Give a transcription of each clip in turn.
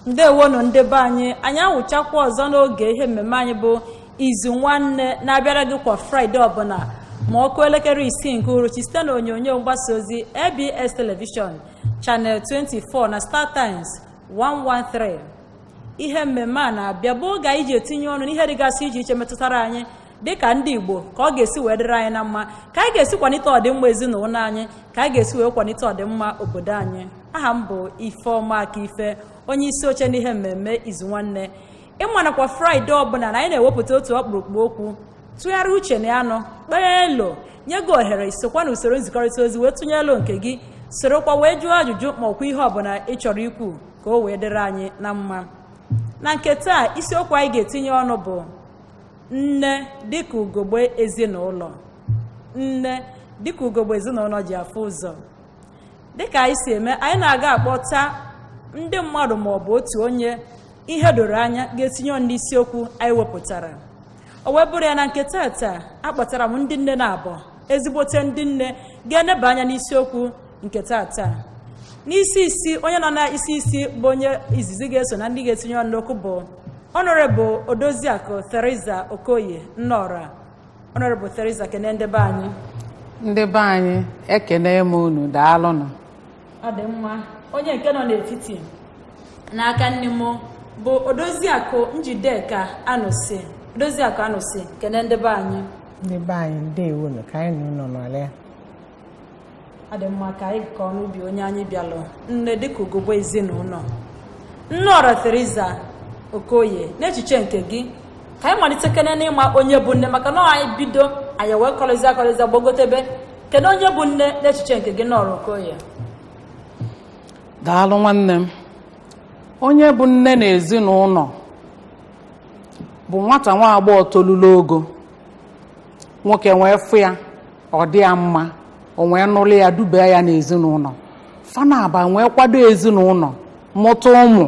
ndewonụ ndị be anyị anyị awụchakwa ọzọ n'oge ihe mmemme anyị bụ izu nwanne na-abịara gị kwa fraịde ọbụla ma ọ kụọ elekere isii nke uhuruchi site na onyonyo mgbasa ozi abs televishọn channel 24 na star times 113 ihe mmemme a na-abịa bụ oge anyị ji etinye ọnụ n'ihe dịgasị iche iche metụtara anyị dịka ndị igbo ka ọ ga-esi wee dịrị anyị na mma ka anyị ga-esi kwalite ọdịmma ezinụlọ anyị ka anyị ga-esi wee kwalite ọdịmma obodo anyị aha m bụ ifeọma aka ife onye isi oche n'ihe mmemme izu nwanne ị ma na kwa fraịde ọbụla na anyị na-ewepụta otu ọkpụrụkpụ okwu tụgharịa uche na ya nọ kpee elo nye gị ohere isokwa na usoro nzikọrịta ozi wee tụnye elo nke gị sorokwa wee jụọ ajụjụ ma ọkwa ihe ọbụla ị chọrọ ikwu ka o wee dịrị anyị na mma na nke taa isiokwu anyị ga-etinye ọnụ bụ nne dịka ugogbe ezinụlọ nne dịka ugogbe ezinụlọ ji afụ ụzọ dịka anyị si eme anyị na-aga akpọta ndị mmadụ ma ọ bụ otu onye ihe doro anya ga-etinye ọnụ n'isiokwu anyị wepụtara o wee bụrụ ya na nke taata akpọtara m ndị nne na abụọ ezigbote ndị nne ga-eneba anya n'isiokwu nke taata n'isi isi onye nọ na isi isi bụ onye izizi ga-eso na ndị ga-etinye ọnụ n'okwu bụ ọnọrebụ odoziakụ theresa okoye nne ọra ọnọrebụ theresa kene ndị be anyị ndị be anyị ekene m unu daalụnụ ọ dị mma onye nke nọ n'etiti n'aka nni m bụ odoziakụ njideka anụsi odoziakụ anụsi kene ndị be anyị ndị be anyị ndewonu ka anyị na unu nọlịa ọ dị mma ka anyị kọọ n'ubi onye anyị bịalụ nne dịka ugogbe ezinụlọ nne ọra Theresa Okoye n'echiche nke gị ka anyị malitekene n'ịma onye bụ nne maka na anyị bido anyị wee kọrịzia kọrịzia gbagotebe kedu onye bụ nne n'echiche nke gị nne ọra Okoye daalụ nwanne m onye bụ nne na ezinụlọ bụ nwata nwa agbọghọ tolulu ogo nwoke wee fụ ya ọ dị ya mma o wee nụlụ ya dubaa ya n'ezinụlọ fa naabọ wee kwado ezinụlọ mụta ụmụ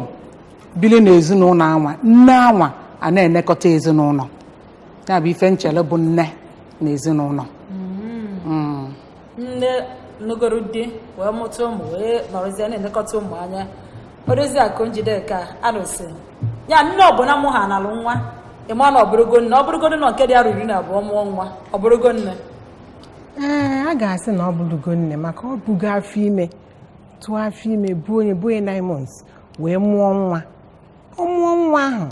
bili n'ezinụlọ anwa nne anwa a na-enekọta ezinụlọ ya bụ ife m chelu bụ nne na ezinụlọ nne nụgoro di wee mụta ụmụ wee nọrọzie na-elekọta ụmụ anya Odoziakụ Njideka anụsi ya nne ọbụla mụhanalụ nwa ị ma na ọ bụrụgo nne ọ bụrụgodu na nke dị arọ iri na abụọ mụọ nwa ọ bụrụgo nne ee a ga-asị na ọ bụrụgo nne maka o bugo afọ ime tụọ afọ ime buo nya buo nya nine months wee mụọ nwa ọ mụọ nwa ahụ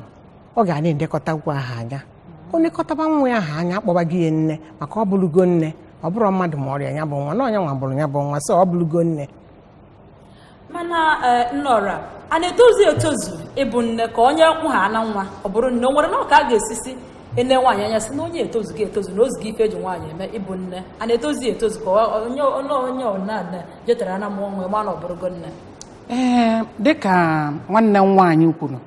ọ ga na-elekọtakwu ha anya o lekọtaba nwa ahụ anya a kpọbazi ya nne maka ọ bụlụgo nne ọ bụrụ mmadụ ma ọrịa ya bụ nwa na onye nwa bulu ya bụ nwa so ọ bụlụgo nne mana eh, nnọra a na-etozu etozu ịbụ nne ka onye mụhana nwa ọ bụrụ nne o nwere nọọ ka a ga-esisi ele nwaanyị anya sị na onye a etozugo etozu na o zugo ife eji nwaanyị eme ịbụ nne a na-etozu ya etozu ka ọ- onye onye onye ọna nne jetara ana mụọ nwa ma na ọ bụrụgo nne ee dịka nwanne m nwaanyị kwuru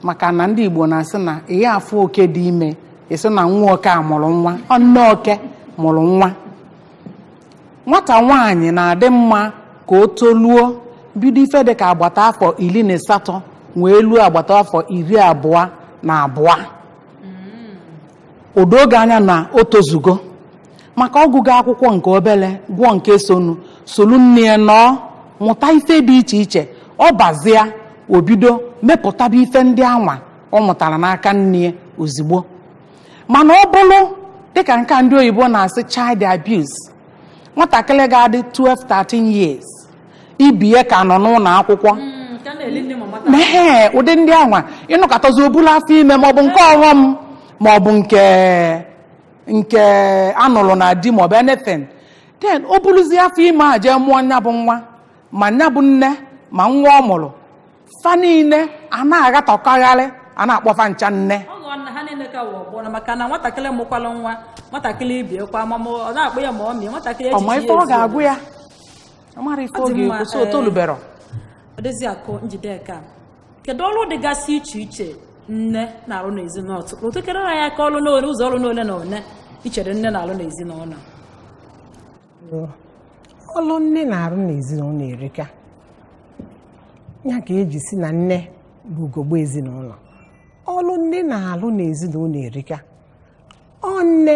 maka na ndị Igbo na-asị na ihe afọ oke dị ime ị sị na nwa oke a mụrụ nwa ọ nne oke mụrụ nwa nwata nwaanyị na-adị mma ka o toluo bido ife dị ka agbata afọ iri na asatọ wee luo agbata afọ iri abụọ na abụọ o doo gị anya na o tozugo maka ọ gụgo akwụkwọ nke obere gụọ nke sonu solu nne ya nọọ mụta ife dị iche iche ọ bazia o bido mepụtaba ife ndị anwa ọ mụtara n'aka nne ya ozigbo mana ọ bụrụ dịka nke a ndị oyibo na-asị child abuse nwatakịrị ga-adị 12 13 years ibe ya ka nọ n'ụlọ akwụkwọ mee ụdị ndị anwa ị nọkatazi o bulu afọ ime maọbụ nke ọghọm maọbụ nke nke anụrụ na di maọbụ anything then o buluzie afọ ime a jee mụọ nya bụ nwa ma nya bụ nne ma nwa ọ mụrụ fa niile a na-aghatọkọgharị a na-akpọfa ncha nne ọ ghọọ na ha niile ka wụ ọgbọrọ maka na nwatakịrị mụkwalụ nwa nwatakịrị ibe ya kwa ma ma ọ na-akpọ ya ma ọ mịa nwatakịrị ọ ma echiche ife ya ọ ezu. ga-agụ ya ọ mara ife Ọ ọ dị mma, ga-ekwu so o ee. tolubero Odoziakụ Njideka kedu ọrụ dịgasị iche iche nne na-arụ n'ezinụlọ tupu tụkere ya aka ọrụ n'ole ụzọ ọrụ n'ole na ole i chere nne na-arụ n'ezinụlọ ọlụ nne na-arụ n'ezinụlọ erika ya ka e ji sị na nne bụ ugogbe ezinụlọ ọlụ nne na-alụ n'ezinụlọ erika ọ nne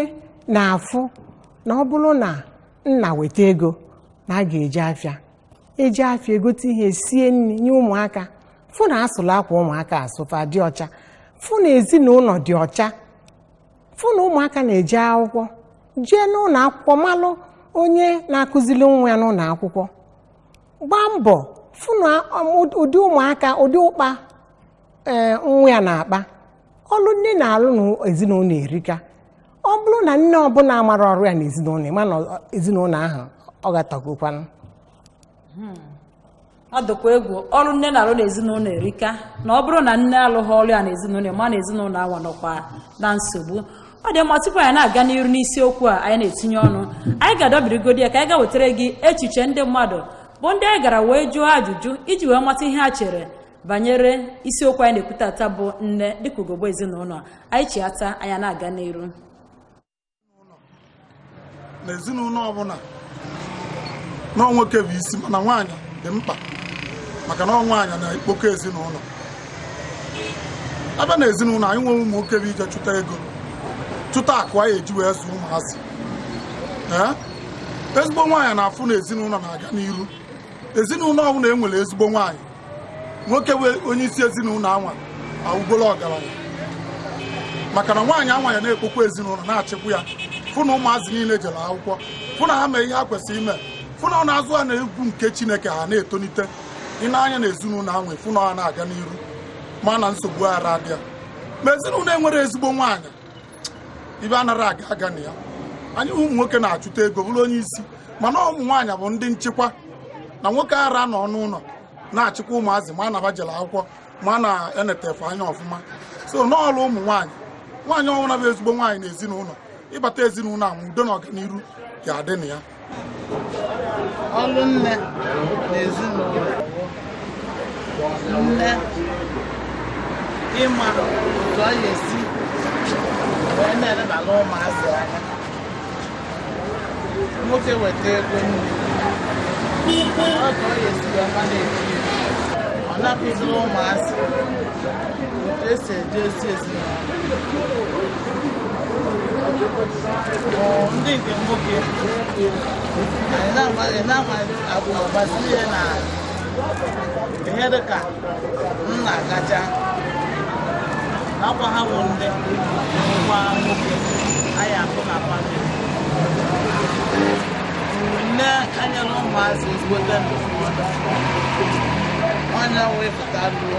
na-afụ na ọ bụrụ na nna weta ego na a ga-eje afịa e jee afịa e gote ihe sie nri nye ụmụaka fụ na a sụlụ akwa ụmụaka asụ fa dị ọcha fụ na ezinụlọ dị ọcha fụ na ụmụaka na-eje akwụkwọ jee n'ụlọ akwụkwọ malụ onye na-akụziri nwa ya n'ụlọ akwụkwọ gbaa mbọ fụ na ụm- ụdị ụmụaka ụdị ụkpa ee nwa ya na-akpa ọlụ nne na-alụ na ezinụlọ erika ọ bụrụ na nne ọbụla amarọ ọrụ ya na ezinụlọ ị ma na ọ- ezinụlọ ahụ ọ gatagokwanụ hmm. ọ dịkwa egwu ọlụ nne na-alụ n'ezinụlọ erika na ọ bụrụ na nne alụghị ọlụ ya n'ezinụlọ ma na ezinụlọ anwa nọkwa na nsogbu ọ dị mma tupu anyị na-aga n'iru n'isiokwu a anyị na-etinye ọnụ anyị ga-adọbirigodi ya ka anyị gaa wetara gị echiche ndị mmadụ bụ ndị anyị gara wee jụọ ajụjụ iji wee mata ihe ha chere banyere isiokwu anyị na-ekwu taata bụ nne dịka ugogbe ezinụlọ anyị chiata anyị ana-aga n'iru n'ezinụlọ ọbụla na ọ nwoke bụ isi mana nwaanyị dị mkpa maka na ọ nwaanyị na-ekpokọ ezinụlọ a bịa na ezinụlọ anyị nwere ụmụ nwoke bụ ije chụta ego chụta akụ anyị eji wee zụọ ụmụazị ee ezigbo nwaanyị na-afụ na ezinụlọ na-aga n'iru ezinụlọ ọbụla e nwere ezigbo nwaanyị nwoke bụ onye isi ezinụlọ anwa awụgolo ọgalanya maka na nwaanyị anwa ya na-ekpokọ ezinụlọ na-achịkwa ya fụ na ụmụazị niile jere akwụkwọ fụ na ha mee ihe ha kwesịrị ime fụ na ọ na-azụ ha na egwu nke chineke ha na-etolite ine anya na ezinụlọ anwa fụ na ọ na-aga n'iru ma na nsogbu ara adị ya ma ezinụlọ enwere ezigbo nwaanyị ife anara aga aga na ya anyị ụmụ nwoke na-achụta ego bụrụ onye isi mana ọ ụmụ nwaanyị bụ ndị nchịkwa na nwoke ara anọ n'ụlọ na-achịkwa ụmụazị ma na fa jela akwụkwọ ma na-enete fa anya ọfụma so n'ọrụ ụmụ nwaanyị nwaanyị ọwụna bụ ezigbo nwaanyị na ezinụlọ ị bata ezinụlọ anwa udo na ọganiru ga-adị na ya ọlụ nne na ezinụlọ nne ịma otu ọ ga-esi wee na-elebara ụmụazị anya nwoke weta ego nne ọ ka ọ ga-esi wee ma na-eji ọ na-akụziri ụmụazị otu e si eje ozi ezi ndị nke nwoke anyị na-ama abụ agbasi ihe na ihe dị ka nna kacha nakwa ha bụ ndị nwa nwoke anyị akụ na family nne anyela ụmụazị ezigbote ndụmọdụ onye wee pụta ruo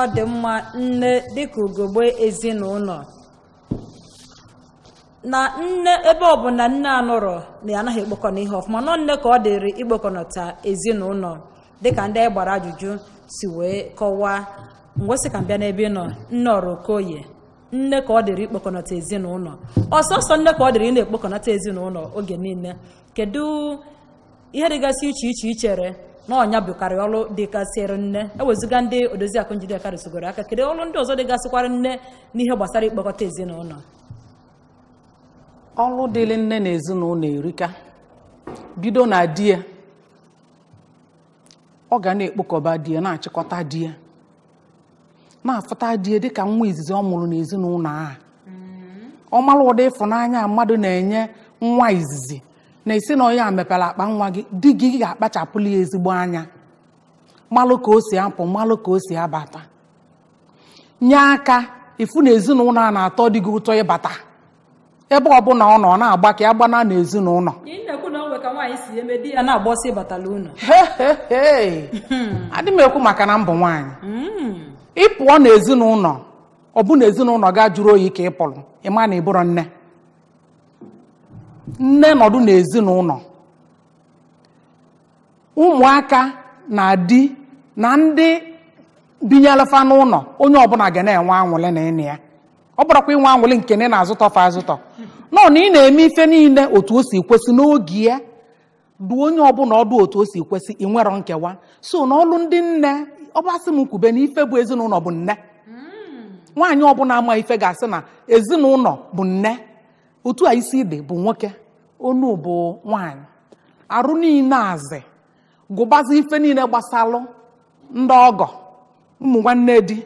ọ dị mma nne dịka ugogbe ezinụlọ na nne ebe ọ bụ na nne anọrọ na ya anaghị ekpokọ na ihe ọfụma na ọ nne ka ọ dịrị ikpokọnọta ezinụlọ dịka ndị anyị gbara ajụjụ si wee kọwaa ngwazi ka m bịa n'ebe ị nọ nneọra okoye nne ka ọ dịrị ikpokọnọta ezinụlọ ọ sọọsọ nne ka ọ dịrị ịna-ekpokọnọta ezinụlọ oge niile kedu ihe dịgasị iche iche i chere na ọ nya bụkarị ọrụ dịgasịrị nne ewezuga ndị odoziakụ njideka rụsogoro aka kedu ọrụ ndị ọzọ dịgasịkwara nne n'ihe gbasara ikpokọta ezinụlọ ọrụ dịrị nne na ezinụlọ erika bido na di ya ọ ga na-ekpokọba di ya na-achịkọta di ya na-afụta di ya dịka nwa izizi ọ mụrụ n'ezinụlọ a ọ mara ụdị ịfụnanya mmadụ na-enye nwa izizi na-asị na onye a mepere akpa nwa gị di gị ga-akpachapụlụ ya ezigbo anya malụ ka o si apụ malụ ka o si abata nye aka ịfụ na ezinụlọ a na-atọ di gị ụtọ ịbata ebe ọbụla ọ nọ ọ na-agba ka ya gbana n'ezinụlọ Ị na-ekwu na o nwe ka nwaanyị si eme di ya na-agba ọsọ ịbata n'ụnọ Hehehe. adị m ekwu maka na m bụ nwaanyị ị pụọ n'ezinụlọ ọ bụ na ezinụlọ gị ajụrọ oyi ka ị pụrụ ị ma na ị bụrọ nne nne nọdụ n'ezinụlọ ụmụaka na di na ndị binyelu fa n'ụlọ onye ọbụla ga na-enwe anwụlị na ị nọ ya ọ bụrọkwa inwe anwụlị nke na ị na-azụtọ fa azụtọ nọ na ị na-eme ife niile otu o si kwesị n'oge ya dụọ onye ọbụla ọdụ otu o si kwesị i nwerọ nkewa so na ọlụ ndị nne ọ bụ a sị m kwube na ife bụ ezinụlọ bụ nne nwaanyị ọbụla ma ife ga-asị na ezinụlọ bụ nne otu a isi di bụ nwoke onu bụ nwanyị arụ niile azị gụbazi ife niile gbasalụ ndị ọgọ ụmụ nwanne di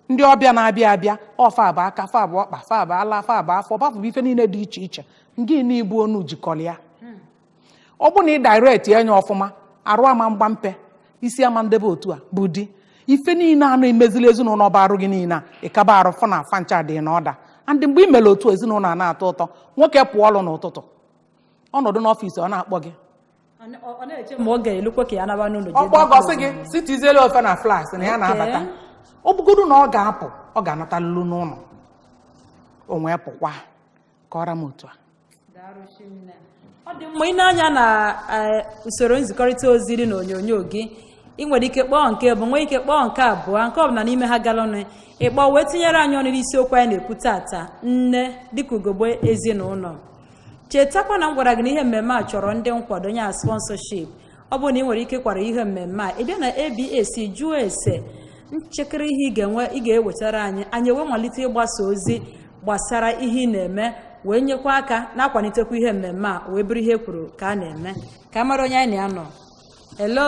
ndị ọbịa na-abịa abịa ọ fa bụ aka fa bụ ọkpa fa bụ ala fa bụ afọ ebe afụ bụ ife niile dị iche iche ngị na ị bụ onu jikọrọ ya ọ bụ na ị direct ya anya ọfụma arụ ama mgba mpe isi ama ndebe otu a bụ di ife niile a na-emezili ezinụlọ bụ arụ gị niile a ị kaba arụ fụ na fa ncha dị na order and mgbe ị mere otu a ezinụlọ a na-atọ ụtọ nwoke pụọ ọrụ n'ụtụtụ ọ nọdụ n'ọfịs ọ na-akpọ gị ọ na-eche ma ọ ga-elukwa ka ya naba n'ụlọ ọ kpọọ gị ọ sị gị si tiziele ofe na flask na ya na-abata ọ bụgodu na ọ ga-apụ ọ ga-anata lulu n'ụlọ o wee pụkwa ka ọ ra m otu a ọ dị mma ị nee anya na eh, usoro nzikọrịta ozi dị n'onyonyo gị ị nwere ike kpọọ nke mbụ nwee ike kpọọ nke abụọ nke ọbụla n'ime ha garanụ ị kpọọ wee tinyere anyị ọnụ n'isiokwu anyị na-ekwu tata nne dịka ugogbe ezinụlọ chetakwa na m gwara gị na ihe mmemme a chọrọ ndị nkwado ya sponsorship ọ bụrụ na ị nwere ike kwado ihe mmemme a ị bịa na abs jụọ ese nchịkịrị ihe ị ga-enwe ị ga-ewetara anyị anyị wee malite ịgbasa ozi gbasara ihe ị na-eme wee nyekwa aka na-akwalitekwa ihe mmemme a wee bụrụ ihe e kwuru ka a na-eme ka a mara onye anyị na ya nọ hello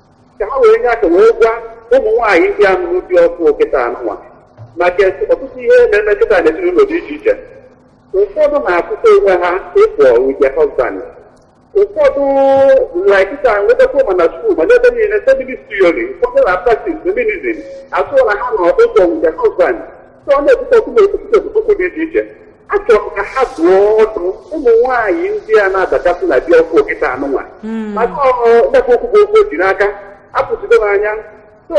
ka ha wee nye aka wee gwa ụmụ nwaanyị ndị a nụrụ di ọfụ kịta anụnwa maka ọtụtụ ihe na-eme kịta n'ezinụlọ dị iche iche ụfọdụ na-afụta onwe ha equal with their husband ụfọdụ like kịta nwetakwa ma na skuul ma n'ebe niile feminist theory ụfọdụ na practice feminism assume na ha nọ equal with their husband site ọ na-ebute ọtụtụ esemokwu dị iche iche achọrọ m ka ha dụọ ọdụ ụmụ nwaanyị ndị a na-abachasị na di ọfụ kịta anụnwa maka ọgbakọ okwu bụ okwu o ji n'aka apụchido m anya so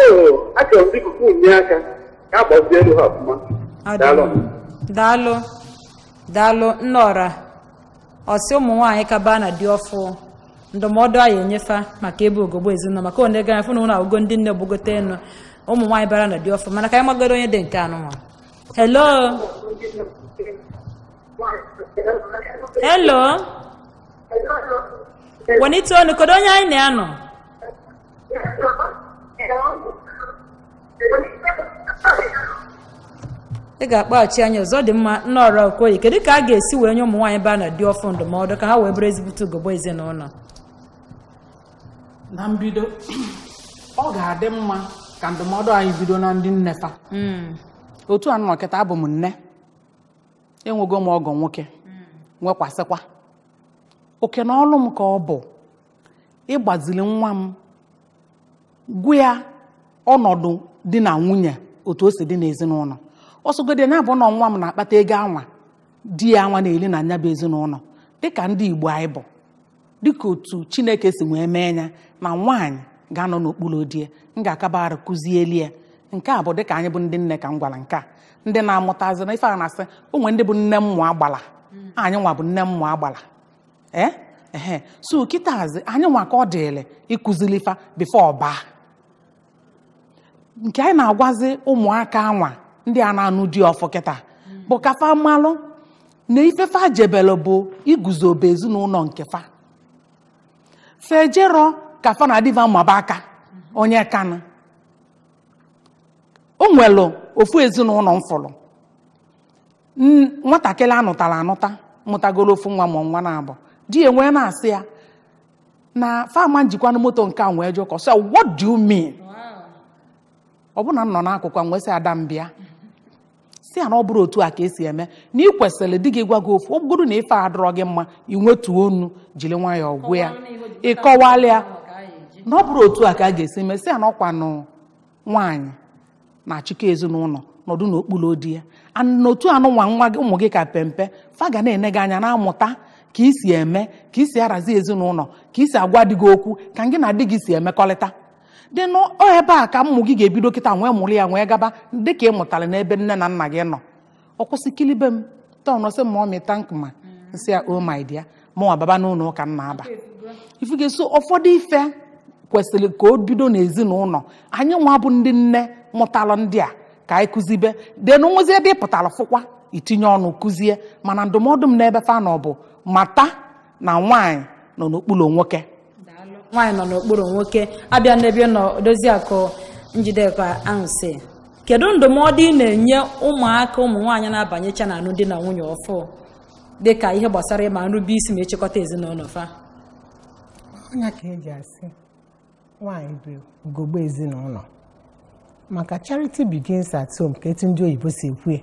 achọrọ m biko ka unu nye aka ka a gbazielu ha ọfụma Ọ dị daalụ mma. daalụ daalụ nne ọra ọ sị ụmụ nwaanyị ka baa na di ọfụ ndụmọdụ anyị enye fa maka ịbụ ugogbe ezinụlọ maka onye gara fụ na unu abụgo ndị nne gbagote enu ụmụ nwaanyị bara na di ọfụ mana ka anyị magodu onye dị nke anụnwa hello hello wenite onu kedu onye anyị na ya nọ ị ga-akpọghachi anyị ọzọ ọ dị mma nne ọra Okoye kedu ka a ga-esi wee nye ụmụ nwaanyị baa na di ọfụ ndụmọdụ ka ha wee bụrụ ezigbote ugogbe ezinụlọ na mbido ọ ga-adị mma ka ndụmọdụ anyị bido na ndị nne fa otu a nọ kịta abụ m nne enwego m ọgọ nwoke nwekwasịkwa okay na ọlụ m ka ọ bụ ịgbazili nwa m gwa ya ọnọdụ di na nwunye otu o si dị n'ezinụlọ ọ sọgodi ya bụ na nwa m na-akpata ego anwa di ya anwa na-eli na nya bụ ezinụlọ dịka ndị Igbo anyị bụ dịka otu Chineke si wee mee ya na nwaanyị ga-anọ n'okpuru di ya m ga-akaba arụ kụzieli ya nke a bụ dịka anyị bụ ndị nne ka m gwara nke a ndị na-amụtazi na ife a na-asị o nwe ndị bụ nne mmụọ agbala anyị nwa bụ nne mmụọ agbala ee ehe so kịtazi anyị nwa ka ọ dịrị ịkụzili fa before ọ baa nke anyị na-agwazi ụmụaka anwa ndị a na-anụ di ọfụ kịta bụ ka fa malụ na ife fa jebelu bụ iguzobe ezinụlọ nke fa fa ejero ka fa na di fa maba aka onye kanụ o nwelu ofu ezinụlọ m fụlụ N- nwatakịrị a nụtara anụta mụtagoro ofu nwa ma nwa naabọ di ya wee na-asị ya na fa ama ejikwanụ moto nke a wee jụkọ sị what do you mean ọ bụ na m nọ n'akụkụ a m wee sị ada m bịa sị ya na ọ bụrọ otu a ka e si eme na ị kwesịrị di gị gwa gị ofu ọ bụgodu na ife adịrọ gị mma i wetuo onu jiri nwayọọ gwa ya ị kọwalụ ya na ọ bụrọ otu a ka a ga-esi mee sị ya na ọ kwanụ nwaanyị na-achịkọ ezinụlọ nọdụ n'okpuru di ya n'otu anụnwa nwa gị ụmụ gị ka pempe fa ga na-ene gị anya na-amụta ka i si eme ka i si arazi ezinụlọ ka i si agwa di gị okwu ka gị na di gị si emekọrịta then ebe a ka ụmụ gị ga-ebido kịta nwee mụrụ ya nwee gaba dịka ị mụtara n'ebe nne na nna gị nọ ọ kwụsị kilibe m tọn sị ma ọ mịta nkụma nsị ya o my dear mụnwa baba n'ụlọ ụka m na-aba ifu ga-eso ụfọdụ ife kwesịrị ka o bido n'ezinụlọ anyị nwa bụ ndị nne mụtara ndị a ka anyị kụzibe then o nwezie ebe ị pụtara fụkwa i tinye ọnụ kụzie mana ndụmọdụ m n'ebe fa nọ bụ mata na nwaanyị nọ n'okpuru nwoke nwaanyị nọ n'okpuru nwoke a bịa n'ebe ị nọ odoziakụ njideka ansị kedu ndụmọdụ ị na-enye ụmụaka ụmụ nwaanyị na-abanyecha na alụmdi na nwunye ọfụ dị ka ihe gbasara ịma nrube isi ma ịchịkọta ezinụlọ fa ọ nya ka eji asị nwaanyị bụ ugogbe ezinụlọ maka charity begins at home ka etu ndị oyibo si ekwu ya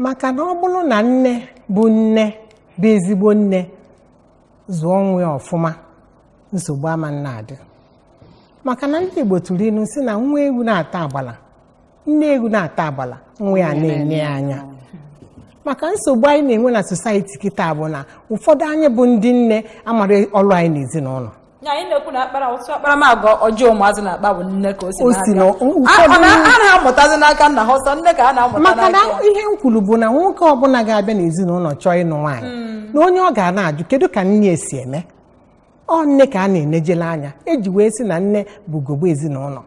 maka na ọ bụrụ na nne bụ nne bụ ezigbo nne zụọ nwa ya ọfụma nsogbu ama na-adị maka na ndị igbo tụrụ ilu si na nwa ewu na-ata agbala nne ewu na-ata agbala nwa ya ana-ene ya anya maka nsogbu anyị na-enwe na society kịta bụ na ụfọdụ anyị bụ ndị nne amarọ ọrụ anyị n'ezinụlọ Ya, anyị na-ekwu na akpara otu akparamagwa ọjọọ ụmụazị na-akpa bụ nne ka o si O si na- na-abịa. ụfọdụ- A- ọ na- a na-amụtazi n'aka nna ha ọ sọ nne ka a na-amụta maka na n'aka ihe m kwuru bụ na nwoke ọbụla ga-abịa n'ezinụlọ chọọ ịnụ nwaanyị na onye ọ ga na-ajụ kedu ka nne ya si eme ọ nne ka a na-enejele anya eji wee sị na nne bụ ugogbe ezinụlọ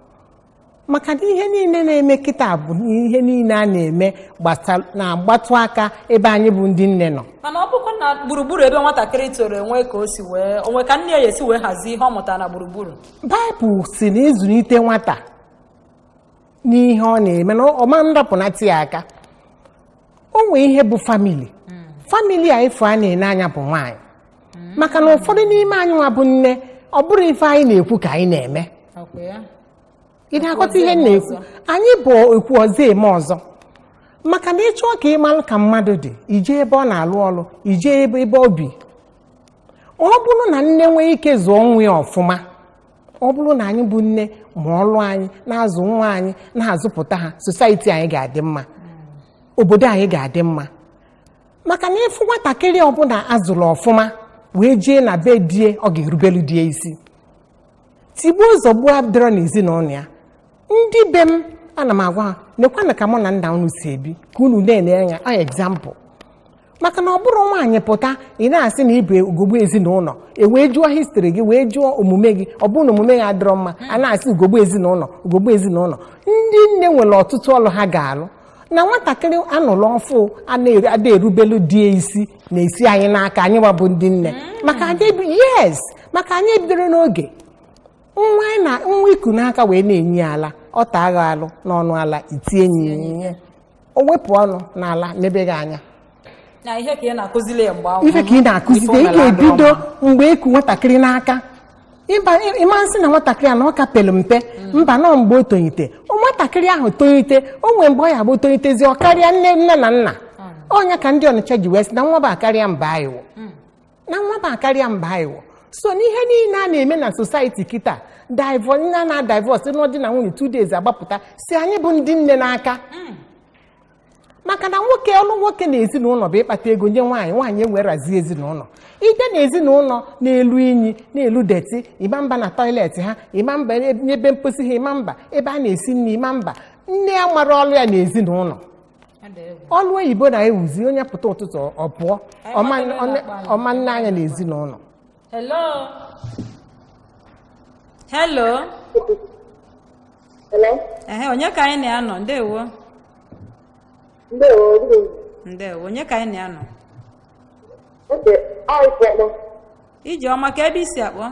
maka na ihe niile na-eme kịta bụ ihe niile a na-eme gbasa- na-agbatụ aka ebe anyị bụ ndị nne nọ mana ọ bụkwa na gburugburu ebe nwatakịrị toro e nwe ka o si wee o nwe ka nne ya esi wee hazie ihe ọ mụtara na gburugburu baịbụl si na ị zụlite nwata n'ihe ọ na-eme na ọ ma ndapụnata ya aka o nwee ihe bụ family family onye ị fụ a na-ene anya bụ nwaanyị maka na ụfọdụ n'ime anyị nwa bụ nne ọ bụrọ ife anyị na-ekwu ka anyị na-eme Ọkwa ya? ị na-akọta ihe m na-ekwu anyị bụ ekwu ọzọ eme ọzọ maka na ị chọọ ka ị malụ ka mmadụ dị i je ebe ọ na-alụ ọrụ i je ebe o bi ọ bụrụ na nne nwee ike zụọ nwa ya ọfụma ọ bụrụ na anyị bụ nne ma ọlụ anyị na-azụ nwa anyị na-azụpụta ha society anyị ga-adị mma obodo anyị ga-adị mma maka na ị fụ nwatakịrị ọbụla a zụrụ ọfụma wee jee na be di ya ọ ga-erubelu di ya isi tigbuo zọgbuo adịrọ n'ezinụlọ ya ndị be m ana m agwa ha nekwanụ ka mụ na nna unu si ebi ka unu na-ene anya example maka na ọ bụrụ nwaanyị pụta ị na-asị na ị bụ ugogbe ezinụlọ e wee jụọ history gị wee jụọ omume gị ọ bụrụ na omume ya adịrọ mma a na-asị ugogbe ezinụlọ ugogbe ezinụlọ ndị nne nwere ọtụtụ ọlụ ha ga-alụ na nwatakịrị a nụlụ ọfụụ ada erubelu di ya isi na-esi anyị n'aka anyị wa bụ ndị nne maka anyị ebi- yes maka anyị ebidoro n'oge nwa anyị na nwa e ku n'aka wee na-enye ya ala ọ taa gị alụ n'ọnụ ala i tie ya ihe o wepụ ọnụ n'ala nebe gị anya na ihe ka ị na-akuzili ya mgbe ahụ ife ka ị na-akuzili ị ga-ebido mgbe i ku nwatakịrị n'aka ịba ị ma nsị na nwatakịrị a na ọ ka pelu mpe mba na ọ mgbe o tonite O nwatakịrị ahụ tonite o nwee mgbe ọ ya-abụ tonitezi ọ karịa nne nne na nna ọ nya ka ndị Ọnịcha ji wee sị na nwa bụ akarịa mba anyị wụ na nwa m akarịa mba iwo so n'ihe niile a na-eme na society kịta divọ nna na divorce na di na nwunye two days a gbapụta si anyị bụ ndị nne n'aka maka na nwoke ọlụ nwoke na ezinụlọ bụ ịkpata ego nye nwaanyị nwaanyị ewerazi ezinụlọ ide na ezinụlọ na-elu inyi na-elu dirty ị ma mba na toilet ha ị ma mba n'ebe mposi ha ị ma mba ebe a na-esi nri ị ma mba nne ya amarọ ọlụ ya na ezinụlọ ọlụ oyibo na-ewuzi onye pụta ụtụtụ ọ pụọ ọ ma nne- ọ ma nne anya na ezinụlọ Hello. Hello. Hello? Ehe, onye ka anyị na ya nọ? Ndewo. Ndewo, good evening. Ndewo, onye ka anyị na ya nọ? Okay, ọ ịkpọkpọ. Ijeọma kee ebe i si akpọ?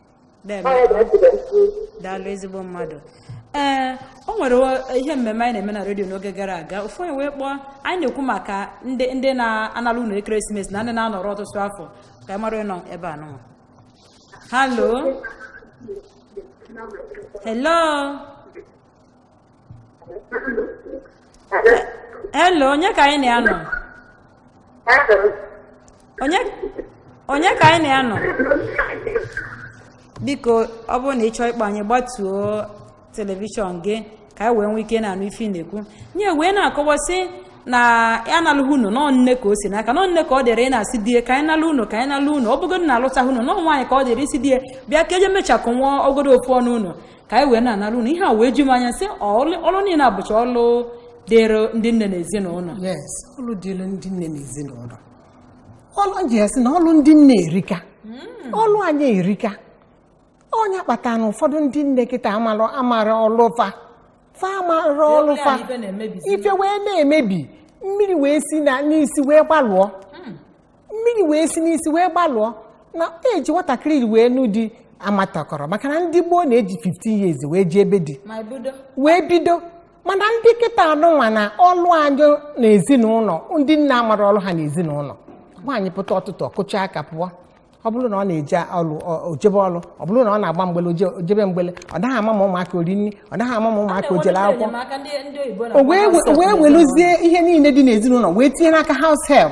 na-eme Ọ ya bụ esi wee kwuo. daalụ ezigbo mmadụ ee o nwere o- ihe mmemme anyị na-eme na redio n'oge gara aga ofu onye wee kpọọ anyị na-ekwu maka ndị ndị na-analụ ụnọ ekeresimesi na ndị na-anọrọ ọtụtụ afọ ka anyị mara onye nọ ebe a nụnwa hello hello Hello, onye ka anyị na ya nọ? Onye onye ka anyị na ya nọ? Biko ọ bụrụ na ị chọọ ịkpọ anyị gbatuo telivishọn gị ka anyị wee nwee ike na-anụ ife ị na-ekwu. Onye wee na-akọwa sị na analụghị ụnọ na ọ nne ka o si n'aka na ọ nne ka ọ dịrị ịna-asị di ya ka anyị nalụ ụnọ ka anyị nalụ ụnọ ọ bụgodị na alụtaghị ụnọ na ọ nwaanyị ka ọ dịrị ịsị di ya bịa ka e je mechakụ nwa ọ godu ofu ọnụ ụnọ ka anyị wee na-analụ ụnọ ihe a wee ju m anya sị ọlụ niile abụcha ọlụ dịrị ndị nne na ezinụlọ yes ọlụ dịrị ndị nne na ezinụlọ ọrụ ji ya sị na ọlụ ndị nne erika hmm. ọlụ anyị erika ọ nya kpatara na ụfọdụ ndị nne kịta amarọ amarọ ọlụ fa fa amarọ ọlụ fa ife wee na-emebi mmiri wee si na n'isi wee gbalụọ mmiri wee si n'isi wee gbalụọ na eji nwatakịrị wee nụ di amatakọrọ maka na ndị gboo na-eji 15 years wee jee ebe di wee bido mana ndị kịta anụnwa na ọlụ anyị na ezinụlọ ndị nne amara ọlụ ha na ezinụlọ nwaanyị pụta ụtụtụ ọ kụcha aka pụọ ọ bụrụ na ọ na-eje ọlụ ọ- o jebe ọlụ ọ bụrụ na ọ na-agba mgbele oje- o jebe mgbele ọ naghị ama ma ụmụaka o ri nri ọ naghị ama ma ụmụaka o jele akwụkwọ enyemaka ndị ndị oyibo o wee we- o wee weluzie ihe niile dị n'ezinụlọ wee tinye n'aka house help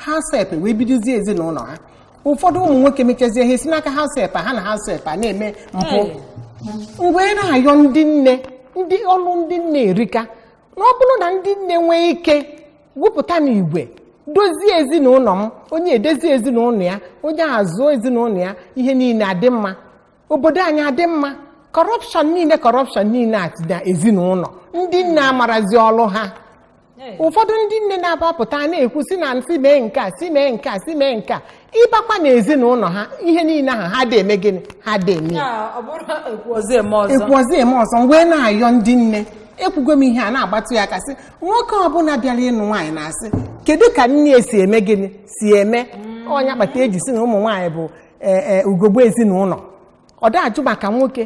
house help wee bidozie ezinụlọ ha ụfọdụ ụmụ nwoke mechazie ha esi n'aka house help ha na house help a na-eme mpụ m wee na-ayọ ndị nne ndị ọlụ ndị nne erika na ọ bụrụ na ndị nne nwee ike gwupụta n'igwe dozie ezinụlọ m onye edozie ezinụlọ ya onye azụọ ezinụlọ ya ihe niile adị mma obodo anyị adị mma corruption niile corruption niile a dị na ezinụlọ ndị nne amarazi ọlụ ha ụfọdụ ndị nne na-abapụta na-ekwu si na si mee nke a si mee nke a si mee nke a ị bakwa na ezinụlọ ha ihe niile ahụ ha adị eme gịnị ha adị eme ya. Ya, ọ bụrụ na ekwu ọzọ eme ọzọ ekwu ọzọ eme ọzọ m wee na-ayọ ndị nne ekwugo m ihe a na-agbatụ ya aka sị nwoke ọbụla bịara ịnụ nwaanyị na-asị kedu ka nne si eme gịnị si eme ọ nya kpata eji sị na ụmụ nwaanyị bụ ee ee ugogbe ezinụlọ ọ dị ajụ maka nwoke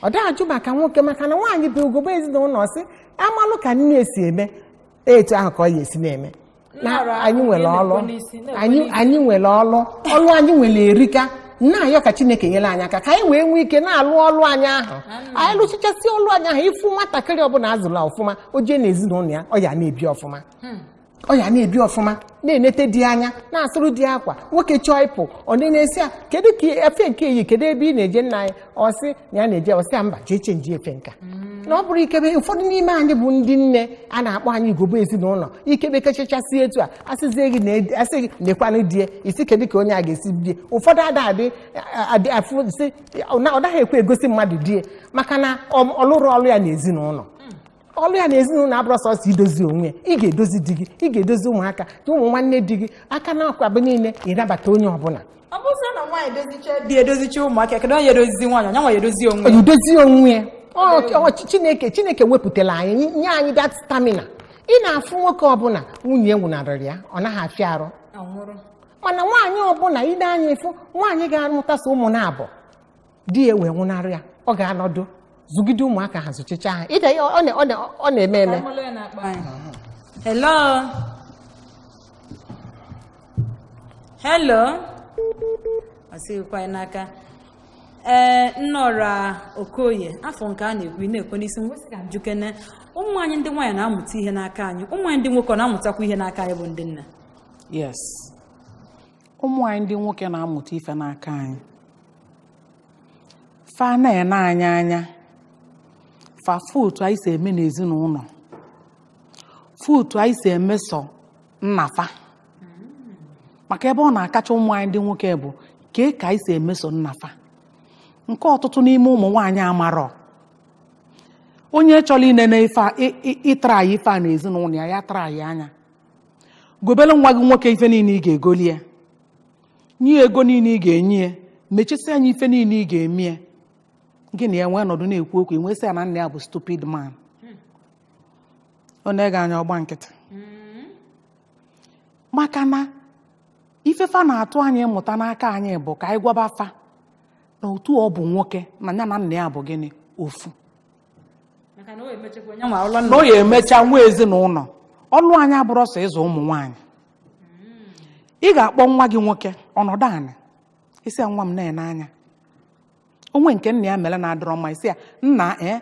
ọ dị ajụ maka nwoke maka na nwaanyị bụ ugogbe ezinụlọ sị a malụ ka nne si eme etu ahụ ka ọ ya esi na-eme na anyị nwere ọlụ ọlụ anyị nwere erika na-ayọ ka chineke nyere anyị aka ka anyị wee nwee ike na-alụ ọlụ anyị ahụ anyị lụchichasị ọlụ anyị ahụ ị fụ nwatakịrị ọbụla azụla ọfụma o jee n'ezinụlọ ya ọ ya na-ebi ọfụma ọ ya na-ebi ọfụma na-enete di ya anya na-asụrụ di ya akwa nwoke chọọ ịpụ ọ na-asị ya kedu ka efe nke i yi kedu ebe ị na-eje nna anyị ọ sị na ya na-eje ọ sị ya mba jee chenji efe nka na ọ bụrụ ikebe ụfọdụ n'ime anyị bụ ndị nne a na-akpọ anyị ugogbe ezinụlọ i kebe kechachasị etu a asịzie gị na- asị gị nekwanụ die isi kedu ka onye a ga-esi bie ụfọdụ ada adị adị afụ sị ọ na- ọ naghị ekwe egosi mmadụ die maka na ọ ọ lụrọ ọlụ ya n'ezinụlọ ọlụ ya na ezinụlọ abụrọ sọsọ idozi onwe ya ị ga-edozi di gị ị ga-edozi ụmụaka na ụmụ nwanne di gị aka na akwa bụ niile ịnabata onye ọbụla ọ bụrụ na nwaanyị dozicha di edozicha ụmụaka kedu onye edozizi nwaanyị onye nwa ya edozi onwe ya idozi onwe ya Ọ- ọ- chi- chineke chineke wepụtara anyị nye- nye anyị that stamina ị na-afụ nwoke ọbụla nwunye ya nwụnarịrị ya ọ naghị afịa arụ anwụrụ mana nwaanyị ọbụla i ne anya ị fụ nwaanyị ga-amụtasị ụmụ na-abụ di ya wee nwụnarị ya ọ ga-anọdụ zụgide ụmụaka ha zụchicha ha ide ya ọ na- ọ na- ọ na-eme eme Hello. Hello. Ọ sịghịkwa ya n'aka. Ee, Nneọra Okoye, afụ m ka a na-ekwu ị na-ekwe n'isi m wee sị ka m jụkene. Ụmụ anyị ndị nwaanyị na-amụta ihe n'aka anyị. Ụmụ anyị ndị nwoke ọ na-amụtakwa ihe n'aka anyị bụ ndị nna. yes ụmụ anyị ndị nwoke na-amụta ife n'aka anyị fa na-ene anyị anya fa fụ otu anyị si eme n'ezinụlọ fụ otu anyị si emeso nna fa maka ebe ọ na-akacha ụmụ anyị ndị nwoke bụ kee ka anyị si emeso nna fa nke ọtụtụ n'ime ụmụ nwaanyị amarọ onye chọrọ inene ife a- ị- ị- ịtara ya ife a n'ezinụlọ ya ya tara ya anya gobere nwa gị nwoke ife niile ị ga-egoli ya nye ya ego niile ị ga-enye ya mechasịa nya ife niile ị ga-eme ya gị na ya nwee nọdụ na-ekwu okwu ị nwee sị ya na nna ya bụ stupid man o nee gị anya ọ gba nkịtị maka na ife fa na-atụ anya ịmụta n'aka anyị bụ ka anyị gwaba fa na otu ọ bụ nwoke na ya na nna ya bụ gịnị ofu maka na o emechekwa onye nwa ụlọ na ọ ya-emecha nwee ezinụlọ ọlụ anyị abụrọ sọ ịzụ ụmụ nwaanyị ị ga-akpọ nwa gị nwoke ọ nọdụ anị ị sị ya nwa m na-ene anya o nwee nke nna ya mere na-adọrọ mma ị sị ya nna ee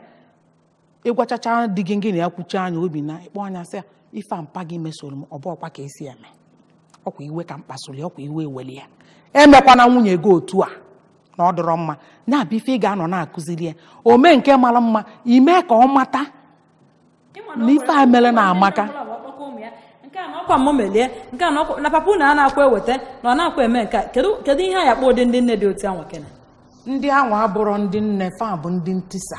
ị gwachacha di gị gị na ya kwuchaa nya o bie na ị kpọọ nya sị ya ife a mpa gị mesoro m ọ bụrọkwa ka e si eme ọkwa iwe ka m kpasuru ya ọkwa iwe eweli ya emekwana nwunye gị otu a na ọ dọrọ mma ya bụ ife ị ga-anọ na-akụziri ya o mee nke mara mma i mee ka ọ mata na ife a mere na amaka nke a na ọkwa mụ melie nke a na ọkwa na papa unu a na-akwa eweta na ọ na-akwa eme nke a kedu kedu ihe a ya-akpọ ụdị ndị nne dị otu anwa kene ndị anwa abụrọ ndị nne fa bụ ndị ntisa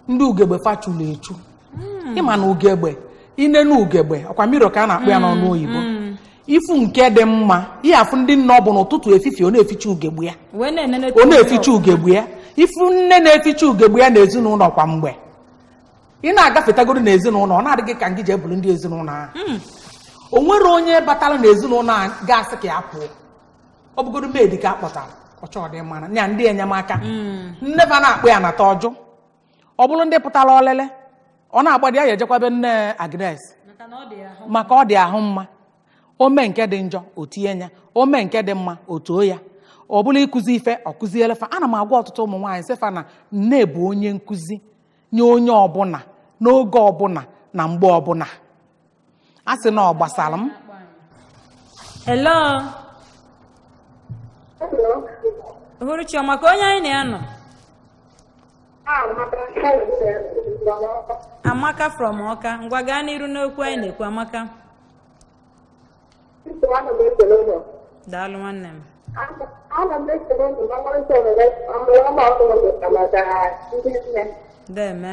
ndị ugegbe fa chulu echu hmm. ị ma na ugegbe i nee na ugegbe ọkwa mirror ka a na-akpọ ya n'ọnụ hmm, oyibo hmm. ị fụ nke dị mma ị ya-afụ ndị nne ọ bụ n'ụtụtụ efifie ọ na-eficha ugegbe ya ọ na-eficha ugegbe ya ị fụ nne na-eficha ugegbe ya na ezinụlọ kwa mgbe ị na-agafetagodo na ezinụlọ ọ na-adị gị ka ngị jee bụlụ ndị ezinụlọ ahụ o nwerọ onye batara na ezinụlọ a ga-asị ka ya pụọ ọ bụgodo maid ka a kpọtara ọ chọọ ọdịmma nya ndị enyemaka hmm. nne fa na-akpọ ya nata ọ jụ ọ bụrụ ndị pụtara ọlele ọ na-agbadi ya ejekwa be nne Agnes maka ọ dị ahụ mma o mee nke dị njọ o tie nya o mee nke dị mma o too ya ọ bụrụ ịkụzi ife ọ kụziele fa ana m agwa ọtụtụ ụmụ nwaanyị sị fa na nne bụ onye nkụzi nye onye ọbụla n'oge ọbụla na mgbe ọbụla a sị na ọ gbasara m hello uhuruchi ọma ka onye anyị na ya nọ amaka from ọka ngwa gaa n'iru n'okwu anyị na-ekwu amaka daalụ nwanne m ana m ekele unu na mkparịta ohere ọmụrụ ọma ọkụrụ maka ndị nne deme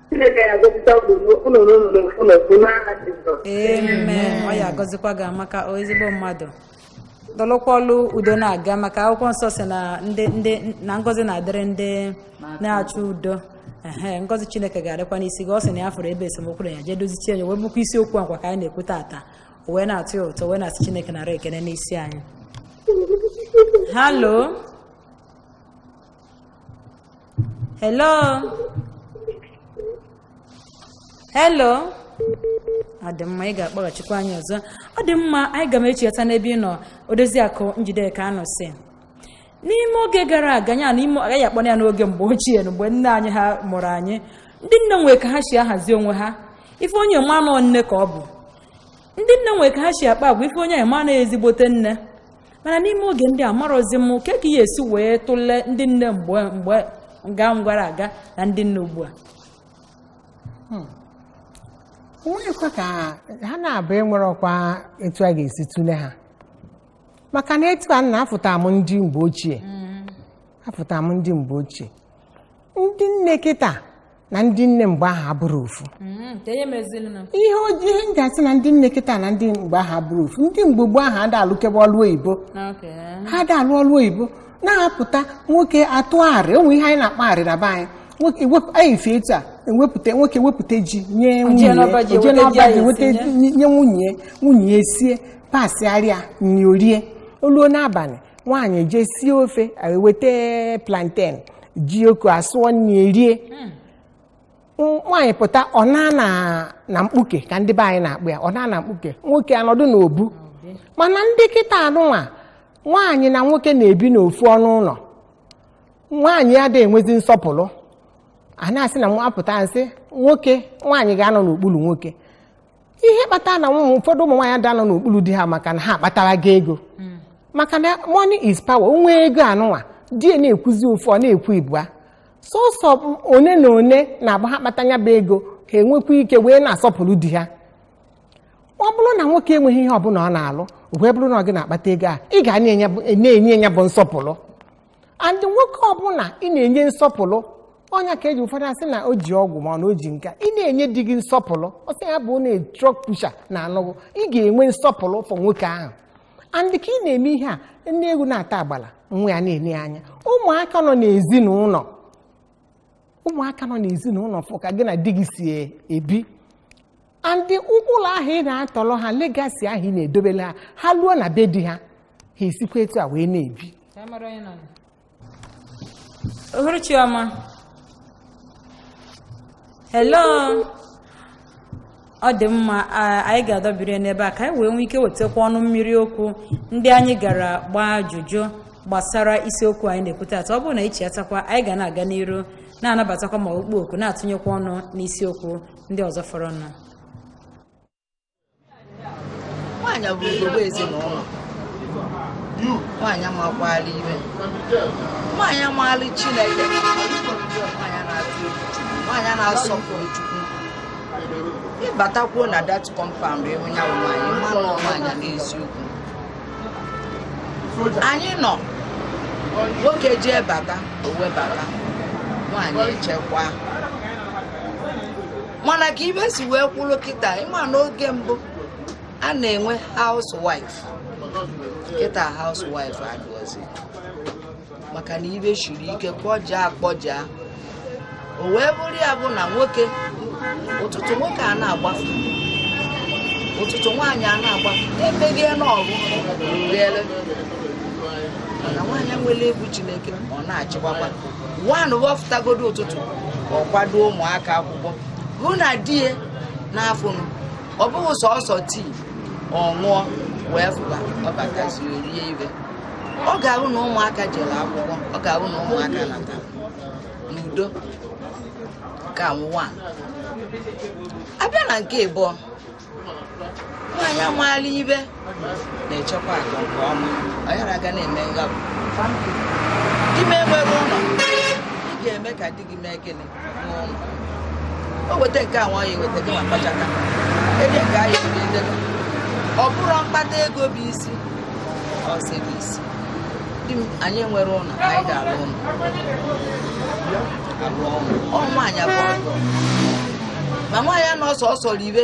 Chineke ya gọzie unu n'aha Jizọs. amen ọ ya agọzikwa gị amaka o ezigbo mmadụ dolukwalụ udo na-aga maka akwụkwọ nsọ sị na ndị ndị na ngọzi na-adịrị ndị na-achọ udo ehe ngọzi chineke ga-adịkwa n'isi gị ọ sị na ya fụrụ ebe esemokwu na ya jee dozichie ya wee bụkwa isiokwu a kwa ka anyị na-ekwu tata o wee na-atụ ya ụtọ wee na-asị chineke nara ekene n'isi anyị hello hello hello ọ dị mma ị ga-akpọghachikwa anyị ọzọ ọ dị mma anyị ga-echighata n'ebe ị nọ odoziakụ njideka anụ si n'ime oge gara aga ya na ime agaghị akpọ ya n'oge mgbe ochie na mgbe nne anyị ha mụrụ anyị ndị nne nwere ka ha si ahazi onwe ha ị fụ onye ị ma na ọ nne ka ọ bụ ndị nne nwere ka ha si akpa agwa ị fụ onye ị ma na ọ ezigbote nne mana n'ime oge ndị a amarọzi m kee ka a ya-esi wee tụlee ndị nne mgbe mgbe nga gara aga na ndị nne ugbu a onweghịkwa ka ha na-abụ enwere ọkwa etu a ga-esi tụle ha maka na etu a na afụta m ndị mgbe ochie afụta m ndị mgbe ochie ndị nne kịta na ndị nne mgbe ahụ abụrọ ofu Mm, ka ihe meziri na ihe ojii ihe m ji asị na ndị nne kịta na ndị mgbe ahụ abụrọ ofu ndị mgbe gboo ahụ ada alụkebe ọlụ oyibo Okay. ha ada alụ ọlụ oyibo na-apụta nwoke atụ arị o nwe ihe anyị na-akpọ arị na be anyị Nwoke ewepụ- anyị fie etu a ewepụta nwoke wepụta ji nye nwunye ya, n'ọba ji, o jee weta ji n'ọba anyị ji weta etinye. ji nye nye nwunye ya, nwunye ya esie pasịara ya nri o rie o luo n'abalị nwaanyị jee sie ofe eweta planten jioko asụọ nri erie nwaanyị pụta ọ nọ na na mkpuke ka ndị be anyị na-akpọ ya ọ nọ na mkpuke nwoke anọdụ n'obu mana ndị kịta anụnwa nwaanyị na nwoke na-ebi n'ofu ọnụ ụlọ nwaanyị ada enwezi nsọpụrụ a na-asị na nwa pụta sị nwoke nwaanyị ga-anọ n'okpuru nwoke ihe kpatara na ụmụ ụfọdụ ụmụ nwaanyị ada anọ n'okpuru di ha maka na ha akpataraga ego maka na money is power o nwee ego anụnwa di ya na-ekwuzi ofu ọ na-ekwu ịbụa sọsọ one na one na-abụ ha kpata ya bụ ego ha enwekwa ike wee na-asọpụrụ di ha ọ bụrụ na nwoke enweghị ihe ọbụla ọ na-alụ wee bụrụ na ọ gị na-akpata ego a ị ga na-enye ya bụ nsọpụrụ and nwoke ọbụla ị na-enye nsọpụrụ ọ nya ka e ji ụfọdụ asị na o ji ọgwụ mana o ji nka ị na-enye di gị nsọpụrụ ọ sị ya bụ na truck pusher na-anụ gị ị ga-enwe nsọpụrụ for nwoke ahụ and ka ị na-eme ihe a nne ewu na-ata agbala nwa ya na-ele anya ụmụaka nọ n'ezinụlọ ụmụaka nọ n'ezinụlọ fụ ka gị na di gị si ebi and ụkpụlụ ahụ ị na-atọrọ ha legacy ahụ ị na-edobela ha ha luo na be di ha ha esikwa etu a wee na-ebi ohuru chioma hello ọ dị mma anyị ga-adọbiri n'ebe a ka anyị wee nwee ike wetakwa ọnụ mmiri okwu ndị anyị gara gbaa ajụjụ gbasara isiokwu anyị na-ekwu taata ọ bụrụ na anyị chighatakwa anyị ga na-aga n'iru na-anabatakwa ma ọkpọ oku na-atụnyekwa ọnụ n'isiokwu ndị ọzọ fọrọ nọ nwaanyị bụ ugogbe ezinụlọ nwaanyị makwaala ihe nwaanyị maala chineke nwaanyị na-asọpụrụ chukwu ị batakwuo na that compound ị hụ ya nwaanyị mmanụ nwaanyị n'eziokwu anyị nọ nwoke jee bata o webata nwaanyị echekwa mana ka ihe si wee kwụrụ kịta ị ma n'oge mbụ a na-enwe housewife kịta housewife adụọzi maka na ihe siri ike kpọja akpọja o wee bụrụ ya bụ na nwoke ụtụtụ nwoke a na-agbafu ụtụtụ nwaanyị a na-agbafu emeghị n'ọgụ rere mana nwaanyị nwere egwu chineke ọ na-achịkwakwa nwaanyị wọfụtagodo ụtụtụ ọ kwado ụmụaka akwụkwọ hụ na di ya n'afọ m ọ bụghị sọsọ tii ọ ṅụọ wee fụba ọ batazi o rie ihe ọ ga-ahụ na ụmụaka jere akwụkwọ ọ ga-ahụ na ụmụaka natara n'udo ka nwa abịa na nke ịbụọ nwaanyị maala ihe na-echekwa akụ nke ọma ọ yara aga na-eme ngabụ di m enwere ụlọ ị ga-eme ka di gị mee gịnị o weta nke a nwaanyị weta gị ma kpachata ede nke anyị weta ede gị. ọ bụrụ mkpata ego bụ isi ọ sị bụ isi di m anyị nwere ụlọ anyị ga-alụ ụlọ alụọ ụlọ ọ nwaanyị abụọ ma nwaanyị anọ sọsọ ribe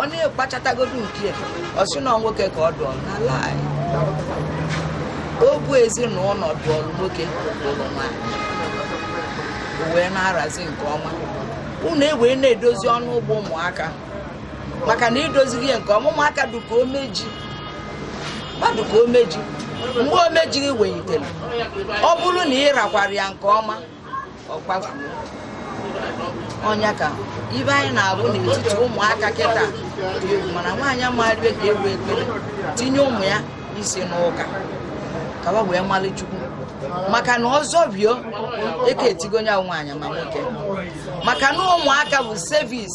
ọ na-ekpachatagodu nke ọ sị na nwoke ka ọ dụọrụ n'ala anyị ọ bụ ezinụlọ dụọrụ nwoke lụrụ nwaanyị o wee na-arazi nke ọma unu ewee na-edozi ọnụ ụgbọ ụmụaka maka na idozighị ya nke ọma ụmụaka dụka ome ji mmadụ ka ome ji mgbe ome ji wenyitere ọ bụrụ na ị rakwara ya nke ọma ọ kpafuo ọ nya ka ife anyị na-afụ n'etiti ụmụaka kịta mana nwaanyị amaghịbe ka egwu ekpere tinye ụmụ ya isi n'ụka ka wa wee malị chukwu maka na ọzọ bio eke etigo nya nwaanyị ma nwoke maka na ụmụaka bụ sevis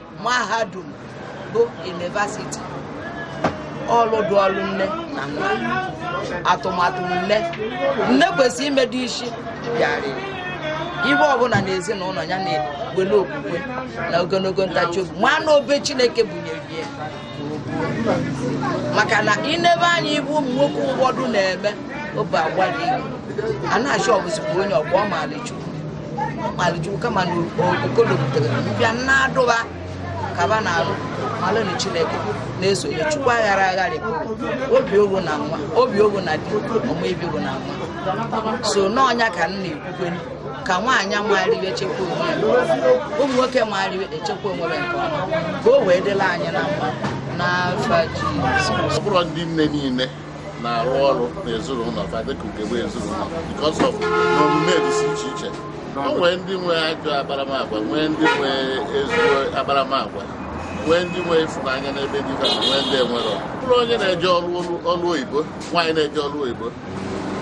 mahadum bụ yunivasiti ọlụ dụọrụ nne na nwa atụmatụ nne nne kwesịrị imedo isi bịarịrị ihe ọbụla na ezinụlọ ya na-ewele okwukwe na ogologo ntachi obi ma na obe chineke bunyere ya maka na i nebe anya ị fụ ụmụ nwoke ụfọdụ na-eme obe agwa dị a na-achọ ọ bụzikwa onye ọgba ọ malị chukwu ọ malị chukwu kama na okolobutere mbịa na-adụba kaba na alụ malụnụ chineke na-eso nya chukwu aghara agharị obi ogo na nwa obi ogo na di ọ ma ebi ogo na nwa so na ọ nya ka m na-ekwukwe ka nwaanyị mara ife chekwa onwe ụmụ nwoke mara ife chekwa onwe nke ọma ka o wee dịla anyị na mma n'afa Jizọs ọ bụrọ ndị nne niile na-arụ ọrụ n'ezinụlọ fa dịka ugegbe ezinụlọ because of na omume dịsị iche iche o nwee ndị nwe ajọ akparamagwa nwee ndị nwe ezigbo akparamagwa nwee ndị nwe ịfụnanya n'ebe di ha nwee ndị enwerọ ọ bụrụ onye na-eje ọrụ oyibo nwaanyị na-eje ọrụ oyibo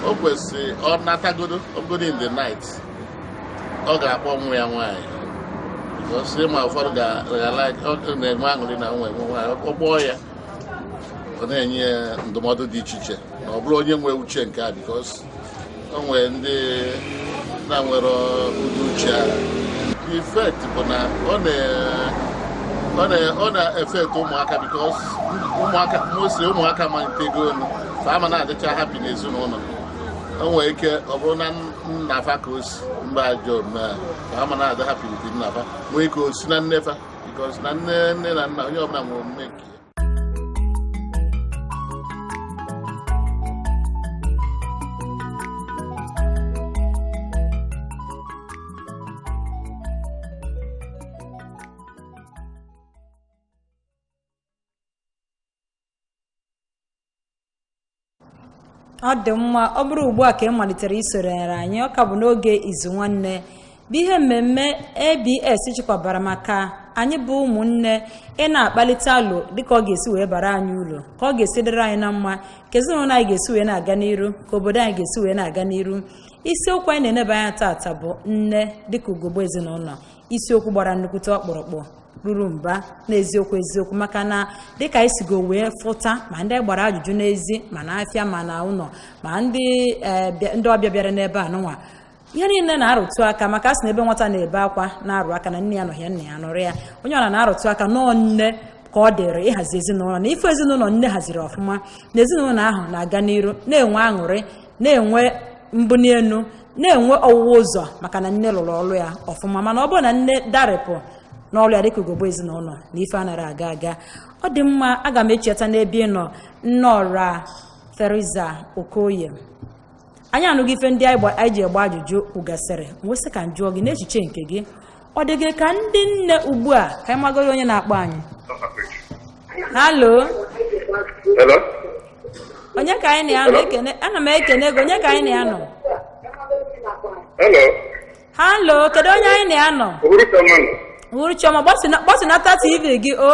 o kwesịrị ọ natagodu ọ bụgodu in the night ọ ga-akpọ nwa ya nwaanyị ị ma ụfọdụ ga-enwe aṅụrị na nwa enwe nwaanyị ọ kpọọ ya ọ na-enye ya ndụmọdụ dị iche iche na ọ bụrụ onye nwe uche nke a bikos o nwere ndị na-enwerọ ụdị uche ahụ ifekt bụ na ọ na ọ na-afekt ụmụaka bikos ụmụaka mostly ụmụaka malitego olu ama na-adịcha hapi n'ezinụlọ o nwere ike ọ bụrụ na nna fa ka o si mba ajọ omume a fa ama na-adị hapi with nna fa nwee ike o si na nne fa bikos na nne nne na nna onye ọbụla nwere omume nke ọ dị mma ọ bụrụ ugbu a ka ị malitere isonyere anyị ọ ka bụ n'oge izu nwanne bụ ihe mmemme abs chịkwabara maka anyị bụ ụmụnne ị na-akpalite alo dịka ọ ga-esi wee bara anyị uru ka ọ ga-esi dịrị anyị na mma ka ezinụlọ anyị ga-esi wee na-aga n'iru ka obodo anyị ga-esi wee na-aga n'iru isiokwu anyị na-eneba anya taata bụ nne dịka ugogbe ezinụlọ isiokwu gbara nnukwute ọkpụrụkpụ ruru mba n'eziokwu eziokwu maka na dịka anyị sigo wee fụta ma ndị anyị gbara ajụjụ n'ezi ma na afịa ma na ụlọ ma ndị eh, bịa- ndị ọbịa bịara n'ebe a nụnwa ihe niile na-arụtụ aka maka a sị na ebe nwata na-ebe akwa na-arụ aka na nne ya anọhị ya nna ya nọrọ ya onye ọra na-arụtụ aka na ọ nne ka ọ dịrị ịhazi ezinụlọ na ị fụ ezinụlọ nne haziri ọfụma na ezinụlọ ahụ na-aga n'iru na-enwe aṅụrị na-enwe mbụnielu na-enwe ọwụwa ụzọ maka na nne lụrụ ọrụ ya ọfụma mana ọ bụrụ na nne darịpụ n'ọrụ ya dịka ugogbe ezinụlọ na ife anarọ aga aga ọ dị mma aga m echiata n'ebe ị nọ nne ọra Theresa Okoye anyị anụgo ife ndị anyị jee gbaa ajụjụ kwugasịrị m wee sị ka m jụọ gị n'echiche nke gị ọ dị gị ka ndị nne ugbu a ka anyị magodu onye na-akpọ anyị halo Hello? onye ka anyị na-anụ Hello? ekene ana m ekene gị onye ka anyị na-anụ Hello? halo kedu onye anyị na-anụ uhuruchi ọma. uhuruchi ọma gbasinata tv gị o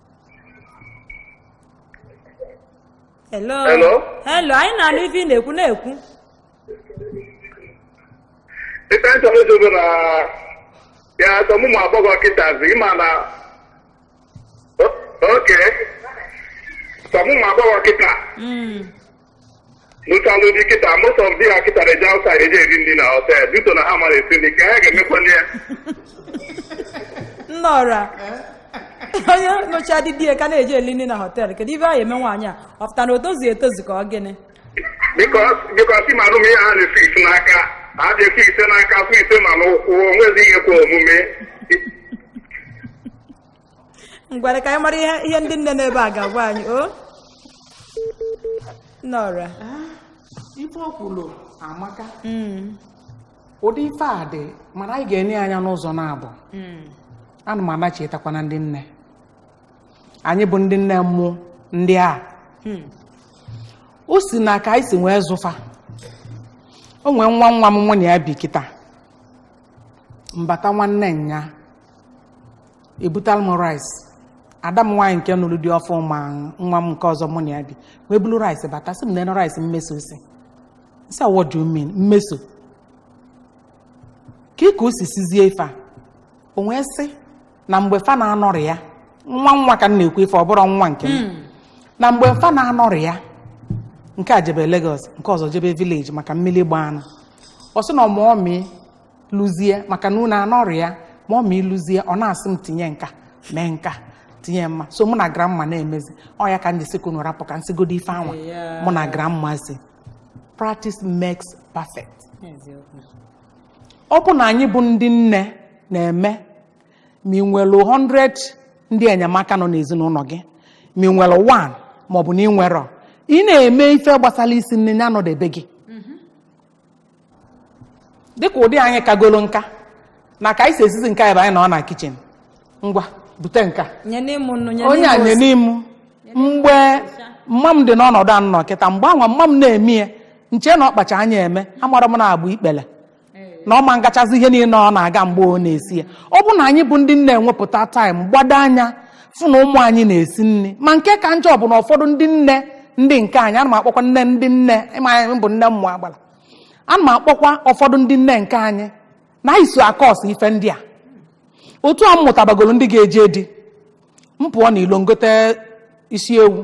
hello Hello? hello anyị na-anụ ife ị na-ekwu na-ekwu ife m chọrọ ịjụ bụ na ya some ụmụ agbọghọ kịtazi ịma na O- okay some ụmụ agbọghọ kịta Mm. nụtalụ di kịta, most of di ha kịta na-eje outside, eje eri nri na hotel. Due to na ha amarọ esi nri ka ha ga-emekwa ya. nnọra onye nụchaa di di ya ka na-eje eli nri na họteelụ kedu ife anyị eme nwaanyị a ọ pụta na o tozughị etozu ka ọ gịnị Because, because ịma na ihe ha na-efix n'aka. ha ji efix n'aka, fix ma n'ụkwụ, onwezi ihe kwe omume. ngwanụ ka anyị mara ihe ihe ndị nne n'ebe a ga-agwa anyị o nneọra ife o kwuru amaka ụdị ife a dị mana anyị ga-ene ya anya n'ụzọ naabọ ana m echetakwa na ndị nne anyị bụ ndị nne mụ ndị a o si na ka anyị si wee zụ fa o nwee nwa nwa m mụ na ya bi kịta mbata nwanne nya ebutalu m rice ada m nwaanyị nke nụrụ di ọfụ ma nwa m nke ọzọ mụ na ya bi wee bulu rice bata sị m na rice Mmeso si m sị what do you mean Mmeso kee ka o si sizie ife a o wee sị na mgbe fa na-anọrọ ya nwa nwa ka m na-ekwu ife ọ bụrọ nwa nke m na mgbe fa na-anọrọ ya nke a jebe Lagos nke ọzọ jebe village maka mmiri gbaa anụ ọ sị na ọmụọ mịị lụzie maka na unu anọrọ ya ma ọ ma ịlụzie ọ na-asị m tinye nke a mee nke a tinye mma so mụ na grandma na-emezi ọ ya ka m ji sị ka unu rapụ ka m sigodi ife anwa Yeah. mụ na grandma si practice makes perfect Eziokwu. ọ bụ na anyị bụ ndị nne na-eme ma ị nwere 100 ndị enyemaka nọ n'ezinụlọ gị ma ị nwere 1 maọbụ na ị nwere ị na-eme ife gbasara isi nni ya nọdebe gị dịka ụdị anyị kagolo nka na ka anyị si esizi nke a ebe anyị nọ na kitchen ngwa bute nke a nyene m nụ nyene onye a m nye ose. n'ime mgbe mma m dị n'ọnọdụ a m nọ kịta mgbe anwa mma m na-eme ya m chee na ọ kpacha anya eme amarọ m na agba ikpele na ọ ma m gachazi ihe niile ọ na-aga mgbe ọ na-esi ya ọ bụ na anyị bụ ndị nne enwepụta time gbado anya fụ na ụmụ anyị na-esi nri ma nke ka njọ bụ na ụfọdụ ndị nne ndị nke anyị ana m akpọkwa nne ndị nne ịma anyị bụ nne mmụọ agbala ana m akpọkwa ụfọdụ ndị nne nke anyị na anyị so a-cause ife ndị a otu a m mụtabagoro ndị ga-eje di m pụọ n'ilo m gote isi ewu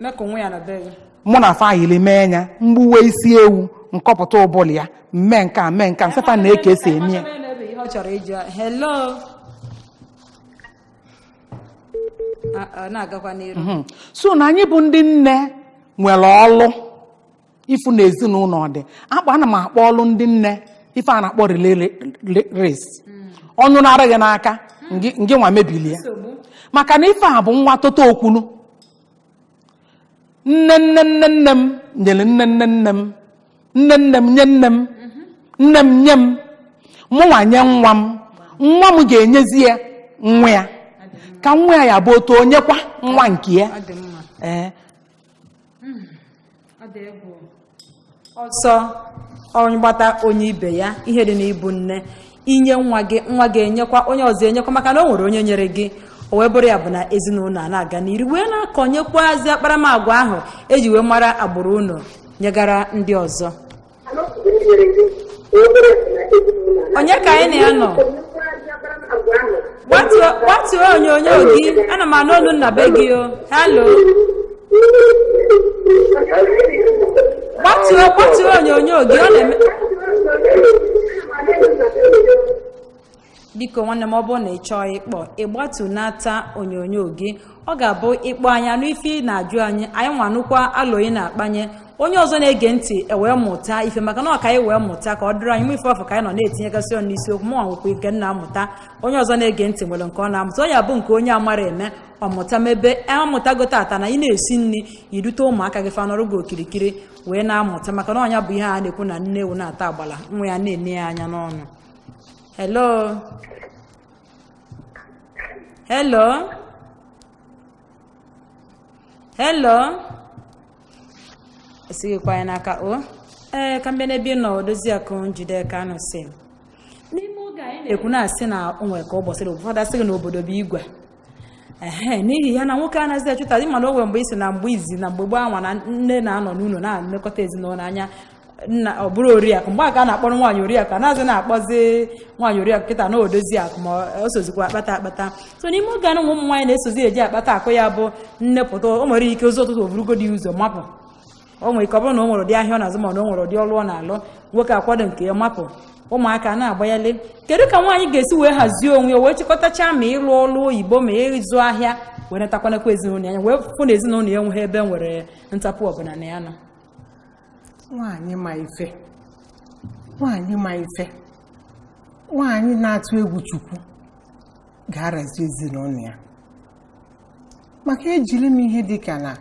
mee ka onwe ya na be gị mụ na fa a yili mee ya m gbuwe isi ewu m kọpụta ụbụlụ ya m mee nke a mee nke a m sị fa nee ka e si eme ya Onye nwere ihe ọ chọrọ ịjụ ya. hello Ah, ah, na-agakwa n'iru Mhm. so na anyị bụ ndị nne nwere ọlụ ịfụ na ezinụlọ ọ dị akpa ana m akpọ ọlụ ndị nne ife a na-akpọ relay re- re- race ọ nyụnara gị n'aka ngị ngị nwa mebili ya nsogbu maka na ife a bụ nwa toto okwunu nne nne nne nne m nyere nne nne nne m nne nne m nye nne m nne m nye m mụnwa nye nwa m nwa m ga-enyezi ya nwa ya ka nwa ya ya bụ otu o nyekwa nwa nke ya ọ dị mma ee hmm, ọ dị egwu ọsọ onye gbata o nye ibe ya ihe dị n'ịbụ nne inye nwa gị nwa gị enyekwa onye ọzọ enyekwa maka na o nwere onye nyere gị o wee bụrụ ya bụ na ezinụlọ a na-aga n'iru wee na-akọnyekwazi akparamagwa ahụ e ji wee mara agbụrụ unu nyegara ndị ọzọ onye ka anyị na ya nọ gbatuo gbatuo onyonyo gị ana m anụ olu m na be gị o hello gbatuo gbatuo onyonyo gị ọ na-eme biko nwanne m ọ bụrụ na ị chọọ ịkpọ ị gbatunata onyonyo gị ọ ga-abụ ị kpọọ anyị anụ ife ị na-ajụ anyị anyị nwa anụkwa alo ị na-akpanye onye ọzọ na-ege ntị ewee mụta ife maka na ọ ka anyị wee mụta ka ọ dịrị anyị nwe ife afụ ka anyị nọ na-etinyegasị ọnụ n'isiokwu mụ nwekwa ike na-amụta onye ọzọ na-ege ntị nwere nke ọ na-amụta ọ ya bụ nke onye amara eme ọ mụta mebe amụtago tata na ị na-esi nri i dute ụmụaka gị fa nọrụ gị okirikiri wee na-amụta maka na ọ nya bụ ihe a na-ekwu na nne ewu na-ata agbala nwa ya na-ene ya anya n'ọnụ hello hello hello esighịkwa ya n'aka o ee ka mbịa n'ebe ị nọ odozi akụ njide ka anụ si n'ime oge anyị na-ekwu na-asị na o nwere ka ụbọchị na ụfọdụ asị gị na obodo bụ igwe ehe n'ihi ya na nwoke anaghịzi achụta ị ma na o nwe mgbe isi na mgbe izi na mgbe gboo anwa na nne na-anọ n'ụlọ na-elekọta ezinụlọ anya nna ọ bụrụ oriakụ mgbe a ka a na-akpọrọ nwaanyị oriakụ anaghịzi na-akpọzi nwaanyị oriakụ kịta na odozi akụ ma o sozikwa akpata akpata so n'ime oge anụ ụmụ nwaanyị na-esozi eje akpata akụ ya bụ nne pụta o nwere ike ụzọ ụtụtụ o burugodi ụzọ mapụ o nwere ike ọ bụrụ na o nwere ụdị ahịa ọ na-azụ ma na o nwere ụdị ọlụ ọ na-alụ nwoke akwado nke ya mapụ ụmụaka na-agbanyele kedu ka nwaanyị ga-esi wee hazie onwe ya wee chịkọtacha ma ịlụ ọlụ oyibo ma ịzụ ahịa wee netakwanakwa ezinụlọ ya wee fụ na ezinụlọ ya enweghị ebe nwere ntapụ ọbụla na ya nọ nwaanyị ma ife nwaanyị ma ife nwaanyị na-atụ egwu Chukwu ga-arazi ezinụlọ ya maka ejiri m ihe dịka na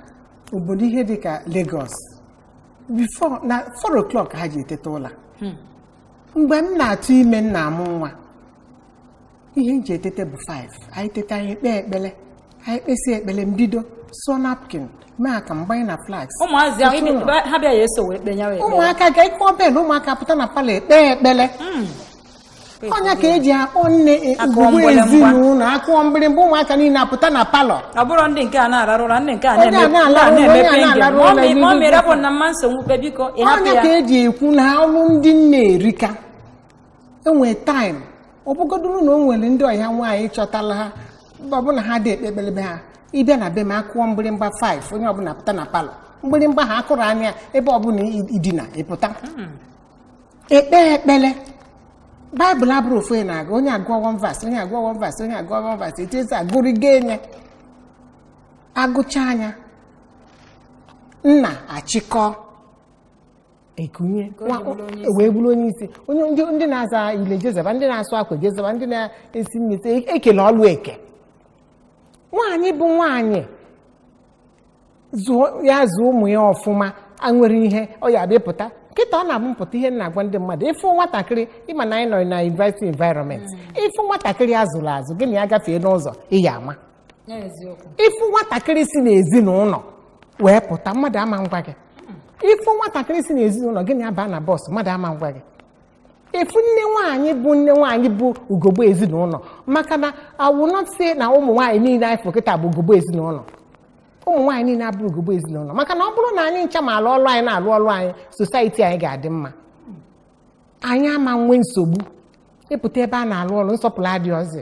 obodo ihe dịka Lagos before na 4 o'clock ha ji eteta ụla hmm. mgbe m na-atụ ime m na-amụ nwa ihe m ji eteta bụ 5 anyị teta anyị ekpee ekpele anyị kpesị ekpele m bido sụọ napkin mee akamụ gbanye na flask ụmụaka ga-akụ bell ụmụaka apụta na palọ ekpee ekpele hmm. ọ nya ka e ji akpọ nne ugogbe ezinụlọ a kụọ mgbịrịgba ụmụaka niile apụta na palọ ọ bụrụ ndị nke a na-ararụ ụra ndị nke a na-emepe mọmị rapụ m na mma nsogbu kpe biko ị hapụ ọ nya ka e ji ekwu na ọlụ ndị nne erika e nwee time ọ bụgodoro na o nwere ndị ọbịa nwaanyị chọtala ha ọbụna ha adị ekpe ekpele be ha ị bịa na be m a kụọ mgbịrịgba 5 onye ọbụla pụta na palọ mgbịrịgba a a kụrụ anwa ebe ọbụla i dina ị pụta ekpe ekpele baịbụl abụrọ ofu onye na-agụ onye agụọ one verse onye agụọ one verse onye agụọ one verse etu e si agụrịgo enye agụchaa nya nna achịkọ ekunye o wee bụrụ onye isi onye ndị na-aza ile jezeba ndị na-asụ akwa jezeba ndị na-esi ite e kele ọlụ eke nwaanyị bụ nwaanyị zụọ ya zụọ ụmụ ya ọfụma a nwere ihe ọ ya abịa pụta kịta ọ na-abụ mpụta ihe m na-agwa ndị mmadụ ị fụ nwatakịrị ị ma na anyị nọ na university environment ị fụ nwatakịrị a zụrụ azụ gị na ya gafee n'ụzọ ị ya ama n'eziokwu ị fụ nwatakịrị si n'ezinụlọ wee pụta mmadụ ama ngwa gị ị fụ nwatakịrị si n'ezinụlọ gị na ya baa na bus mmadụ ama ngwa gị ị fụ nne nwaanyị bụ nne nwaanyị bụ ugogbe ezinụlọ maka na I will not say na ụmụ nwaanyị niile anyị fụ kịta bụ ugogbe ezinụlọ ụmụ nwaanyị niile abụrọ ugogbe ezinụlọ maka na ọ bụrụ na anyị ncha ma alụ ọlụ anyị na-alụ ọlụ anyị society anyị ga-adị mma anyị ama nwee nsogbu ị pụta ebe a na-alụ ọlụ nsọpụrụ adịrọzi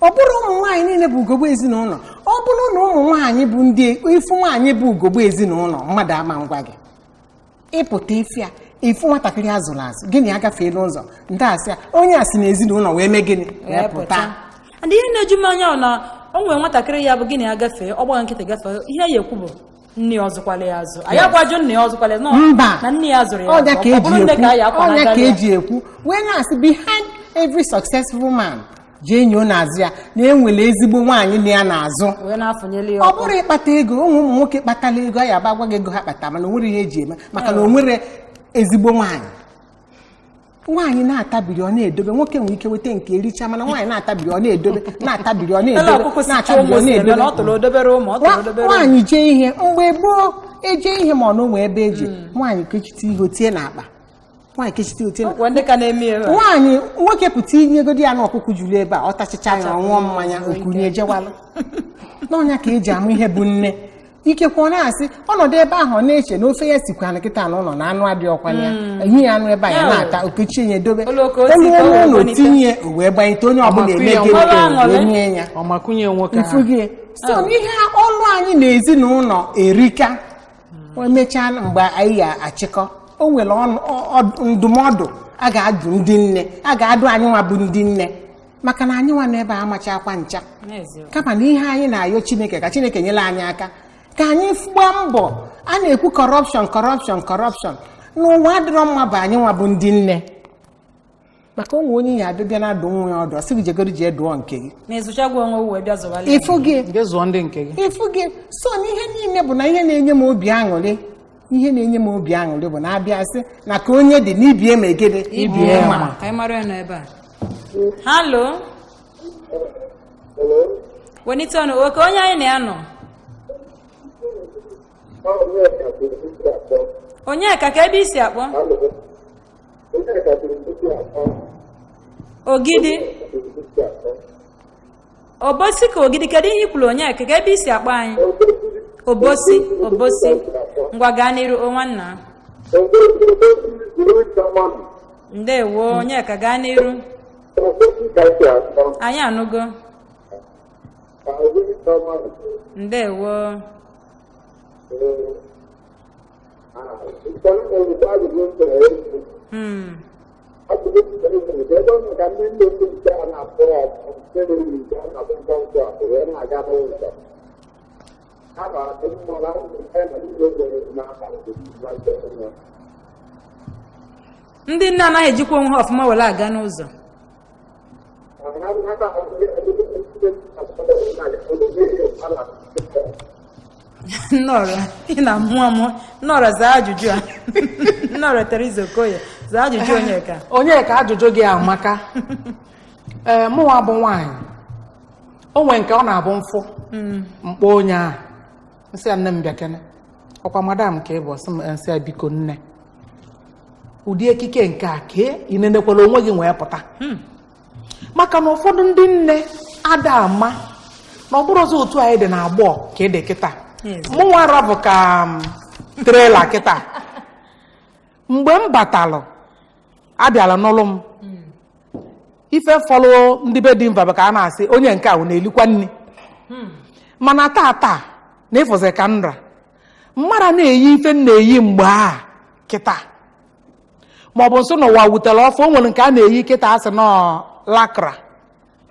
ọ bụrọ ụmụ nwaanyị niile bụ ugogbe ezinụlọ ọ bụrụ na ụmụ nwaanyị bụ ndị ị fụ nwaanyị bụ ugogbe ezinụlọ mmadụ ama ngwa gị ị pụta ị fụ ya ị fụ nwatakịrị a zụrụ azụ gị na ya gafee n'ụzọ ndị asị ya onye a si na ezinụlọ wee mee gịnị wee pụta and ihe na-eju m anya bụ na o nwere nwatakịrị ya bụ gị na ya gafee ọ gbaa gị nkịtị gafee ihe ya ekwu bụ nne ya ọ zụkwara ya azụ anyị ga-ajụ nne ya ọ zụkwara ya mba na nne ya azụrọ ya ọ nya ka eji ekwu wee na-asị behind every successful man jee nyoo n'azụ ya na enwere ezigbo nwaanyị nọ ya n'azụ wee na-afụnyeli ya ọkụ ọ bụrụ ịkpata ego o nwere ụmụ nwoke kpatara ego ya abịa gwa gị ego ha kpata mana o nwere ihe eji eme maka na o nwere ezigbo nwaanyị nwaanyị na-atabiri ọ na-edobe nwoke nwere ike weta nke ericha mana nwaanyị na-atabiri ọ na-edobe na-atabiri ọ Ele na-edobe ọkụkọ si chụọ na-atabiri ụmụ ọ si eme na ọ na-edobe tụrụ odobere ụmụ ọ tụrụ Nwa- odobere ụmụ nwaanyị jee ihe mgbe gboo eje ihe mana o nwere ebe eji nwaanyị kechite ihe o tie n'akpa Ọkwa ndị ka na-eme ya ebe a. nwaanyị nwoke pụta i nyegodi ya na ọkụkọ juru ebe a ọ tachicha ya ọ ṅụọ mmanya okunye jewalụ na ọ nya ka eji ama ihe bụ nne ikekwe ọ na-asị ọ nọdụ ebe ahụ ọ na-eche na ofe ya sikwa na kịta na ụlọ na anụ adịrọkwa ya enye ya anụ ebe a ya na-ata o kechie nye dobe o luo ụlọ o tinye o wee gbanyete onye ọbụla eme gịnị nye ya ị fụgo ya so ihe ọlụ anyị na ezinụlọ erika emechaa mgbe anyị ya achịkọ o nwere ọnụ- ọ- ọ- ndụmọdụ a ga-adụ ndị nne a ga-adụ anyị nwa bụ ndị nne maka na anyị nwa n'ebe a amachakwa ncha N'eziokwu. kama na ihe anyị na-ayọ chineke ka chineke nyere anyị aka ka anyị f- gbaa mbọ a na-ekwu corruption corruption corruption n'ụwa adịrọ mma bụ anyị nwa bụ ndị nne maka o nwere onye ya abịa bịa na-adụ nwa ya ọdụ ọ sị gị jegodo jee dụọ nke gị ị fụgo so na ihe niile bụ na ihe na-enye m obi aṅụrị ihe na-enye m obi aṅụrị bụ na abịa sị na ka onye dị n'ibie ma egede ibie ma ka anyị mara ya nọ ebe a halo wenite ọnụ okay onye anyị na ya nọ Onyeka kee ebe i si akpọ Ogidi obosi ka ogidi kedu ihe i kwuru Onyeka kee ebe i si akpọ anyị obosi obosi ngwa gaa n'iru o nwanna ndewo Onyeka gaa n'iru anyị anụgo ndewo Hmm. ndị nne anaghị ejikwa onwe ha ọfụma were aga n'ụzọ Nneọra ị na-amụ amụ Nneọra zaa ajụjụ a Nneọra Teresa Okoye zaa ajụjụ Onyeka Onyeka ajụjụ gị amaka ee mụnwa bụ nwaanyị o nwe nke ọ na-abụ m fụ m kpọọ onye ahụ m sị ya nne m bịakene ọ kwa madam ka ị bụ ọ sị m m sị ya biko nne ụdị ekike nke a ka ị nenekwala onwe gị wee pụta maka na ụfọdụ ndị nne ada ama na ọ bụrọzị otu anyị dị n'agbọọ ka ị dị kịta Yes. mụnwa rabụ ka trailer kịta mgbe m batalụ abịala nụlụ m ife fọlụ ndị be di m fa bụ ka a na-asị onye nke ahụ na-elikwa nri mana taa taa na ị fụzi ka m ra m mara na-eyi ife m na-eyi mgbe a kịta ma ọ bụ nsọ n'ụwa wetara ọfụụ o nwere nke a na-eyi kịta a sị na ọ lycra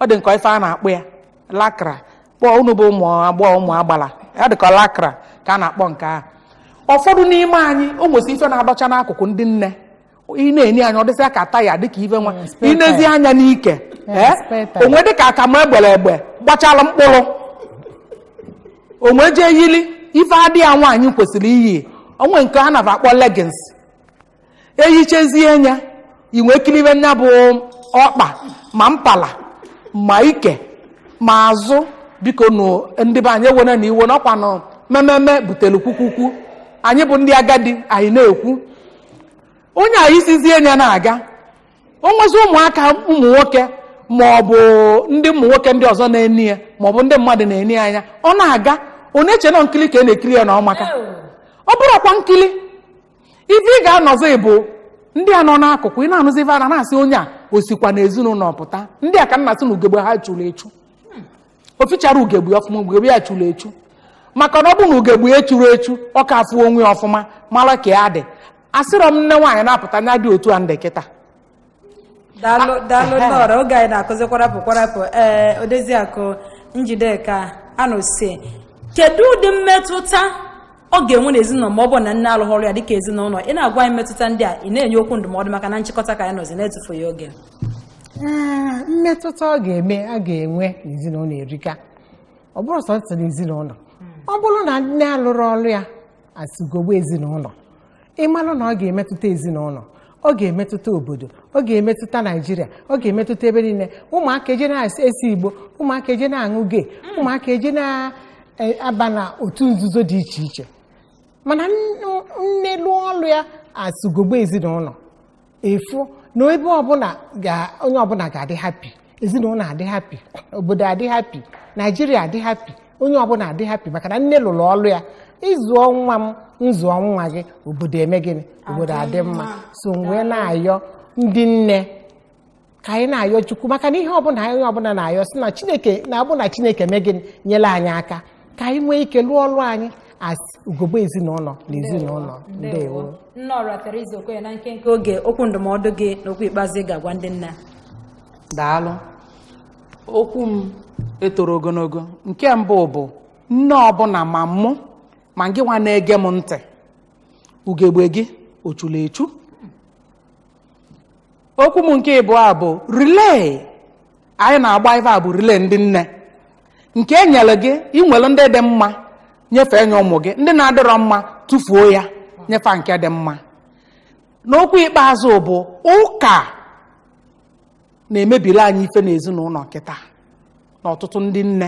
ọ dị ka ọ ife a na-akpọ ya lycra gbọ unu bụ ụmụ agbọghọ ụmụ agbala ọ dịka lycra ka a na-akpọ nke ahụ ụfọdụ n'ime anyị o nwesi ife na-adọcha n'akụkụ ndị nne ị na-ene anya ọ dịsịa ka taya dịka ife nwa Mm, spare i nezie tire. anya n'ike Yeah, ee spare tire. o wee dịka akamụ e gbere egbe gbachala mkpụrụ o wee jee yili ife adị ya nwaanyị kwesịrị iyi o nwe nke a na-akpọ leggings e yichazie nya i wee kilibe nya bụ ọkpa ma mpala ma ike ma azụ biko nụ ndị be anyị ewenanụ iwe na ọ kwanụ mememe butere kwukwukwu anyị bụ ndị agadi anyị na-ekwu onye a yisizie nya na-aga o nwezi ụmụaka ụmụ nwoke ma ọ bụ ndị ụmụ nwoke ndị ọzọ na-ene ya ma ọ bụ ndị mmadụ na-ene ya anya ọ na-aga ọ na-eche na nkiri ka a na-ekiri ya na ọ maka ọ bụrọkwa nkiri ife ị ga-anụzi bụ ndị a nọ n'akụkụ ị na-anụzi ife a na-asị onye a o sikwa n'ezinụlọ pụta ndị a ka m na-asị na ugegbe ha churu echu o ficharọ ugegbe ọfụma ugegbe ya churu echu maka na ọ bụ na ugegbe ya echurọ echu ọ ka afụ onwe ya ọfụma mara ka ya dị asịrọ m nne nwaanyị na-apụta nya dị otu a m dị kịta daalụ daalụ nne ọra oge anyị na-akụzi kwarapụ kwarapụ ee odoziakụ njideka anụsi kedu ụdị mmetụta ọ ga-enwe n'ezinụlọ ma ọ bụ na nne alụghị ọlụ ya dịka ezinụlọ ị na-agwa anyị mmetụta ndị a ị na-enye okwu ndụmọdụ maka na nchịkọta ka anyị nọzi na-etufughị oge Ee, mmetụta ọ ga-eme a ga-enwe n'ezinụlọ erika ọ bụrọ sọsọ n'ezinụlọ ọ bụrụ na nne alụrọ ọlụ ya as ugogbe ezinụlọ ị mara na ọ ga-emetụta ezinụlọ ọ ga-emetụta obodo ọ ga-emetụta naijiria ọ ga-emetụta ebe niile ụmụaka eje na-ese igbo ụmụaka eje na-aṅụ gee ụmụaka eje na-aba na otu nzuzo dị iche iche mana nne lụọ ọlụ ya as ugogbe ezinụlọ ị fụ na ebe ọbụla ga- onye ọbụla ga-adị happy ezinụlọ adị happy obodo adị happy naijiria adị happy onye ọbụla adị happy maka na nne lụrụ ọlụ ya ị zụọ nwa m m zụọ nwa gị obodo eme gịnị obodo adị mma so m wee na-ayọ ndị nne ka anyị na-ayọ chukwu maka na ihe ọbụla onye ọbụla na-ayọ si na chineke na-abụ na chineke mee gịnị nyere anyị aka ka anyị nwee ike lụọ ọrụ anyị as ugogbe ezinụlọ n'ezinụlọ ndewo nne ọra Teresa Okoye na nkenke oge okwu ndụmọdụ gị na okwu ikpeazụ ị ga-agwa ndị nne daalụ okwu m etoro ogologo nke mbụ bụ nne ọbụla ma mụ ma gị nwa na-ege m ntị ugegbe gị o chula echu okwu m nke ịbụa bụ relay anyị na-agba ife a bụ relay ndị nne nke e nyere gị i nwere ndị dị mma nyefee nye ụmụ gị ndị na-adịrọ mma tụfuo ya nye fa nke dị mma n'okwu ikpeazụ bụ ụka na-emebiri anyị ife n'ezinụlọ kịta na ọtụtụ ndị nne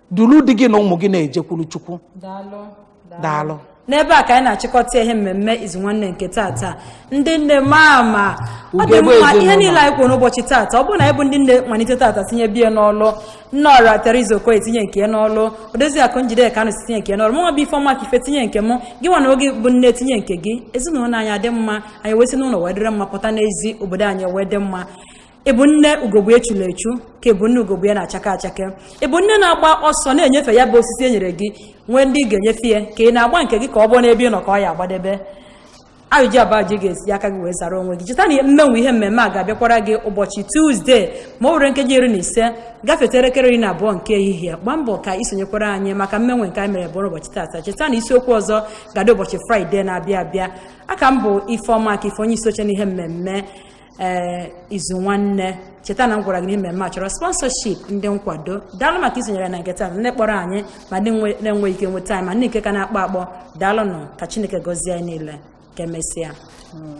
duru di gị na ụmụ gị na-ejekwuru chukwu daalụ n'ebe a ka anyị na-achịkọta ihe mmemme izu nwanne nke tata ndị nne mama ọ dị mma ihe niile anyị kwuru n'ụbọchị tata ọ bụrụ na anyị bụ ndị nne malite tata tinyebe ya n'ọlụ nne ọra Teresa Okoye tinye nke n'ọlụ Odoziakụ Njideka Anụsi tinye nke n'ọlụ mụnwa bụ Ifeọma Akife tinye nke m gị nwa na-ege bụ nne tinye nke gị ezinụlọ anyị adị mma anyị wee si n'ụlọ wee dịrị mma pụta n'ezi obodo anyị wee dị mma ị bụ nne ugogbe ya chulu echu ka ị bụ nne ugogbe ya na-achake achake ị bụ nne na-agba ọsọ na-enyefe ya bụ osisi e nyere gị nwee ndị ị ga-enyefe ya ka ị na-agba nke gị ka ọ bụ n'ebe ị nọ ka ọ ya-agbadebe ajụjụ a bụ gị ga-eji aka gị wee zara onwe gị cheta na mmenwe ihe mmemme a ga-abịakwara gị ụbọchị tuzdee ma o were nkeji iri na ise gafeta elekere iri na abụọ nke ehihie gbaa mbọ ka i sonyekwara anyị maka mmenwe nke anyị mere bụ ụbọchị tata cheta na isiokwu ọzọ ga-adị ụbọchị fraịde na-abịa abịa aka m bụ ifeọma akife onye isi oche n'ihe mmemme ee eh, izu nwanne cheta na m gwara gị na mmemme a chọrọ sponsorship ndị nkwado daalụ maka isonyere na nke taa ndị kpọrọ anyị ma ndị na-enweghị ike nweta anyị ma ndị nke ka na-akpọ akpọ daalụnụ ka chineke gọzie anyị niile ka emesịa hmm.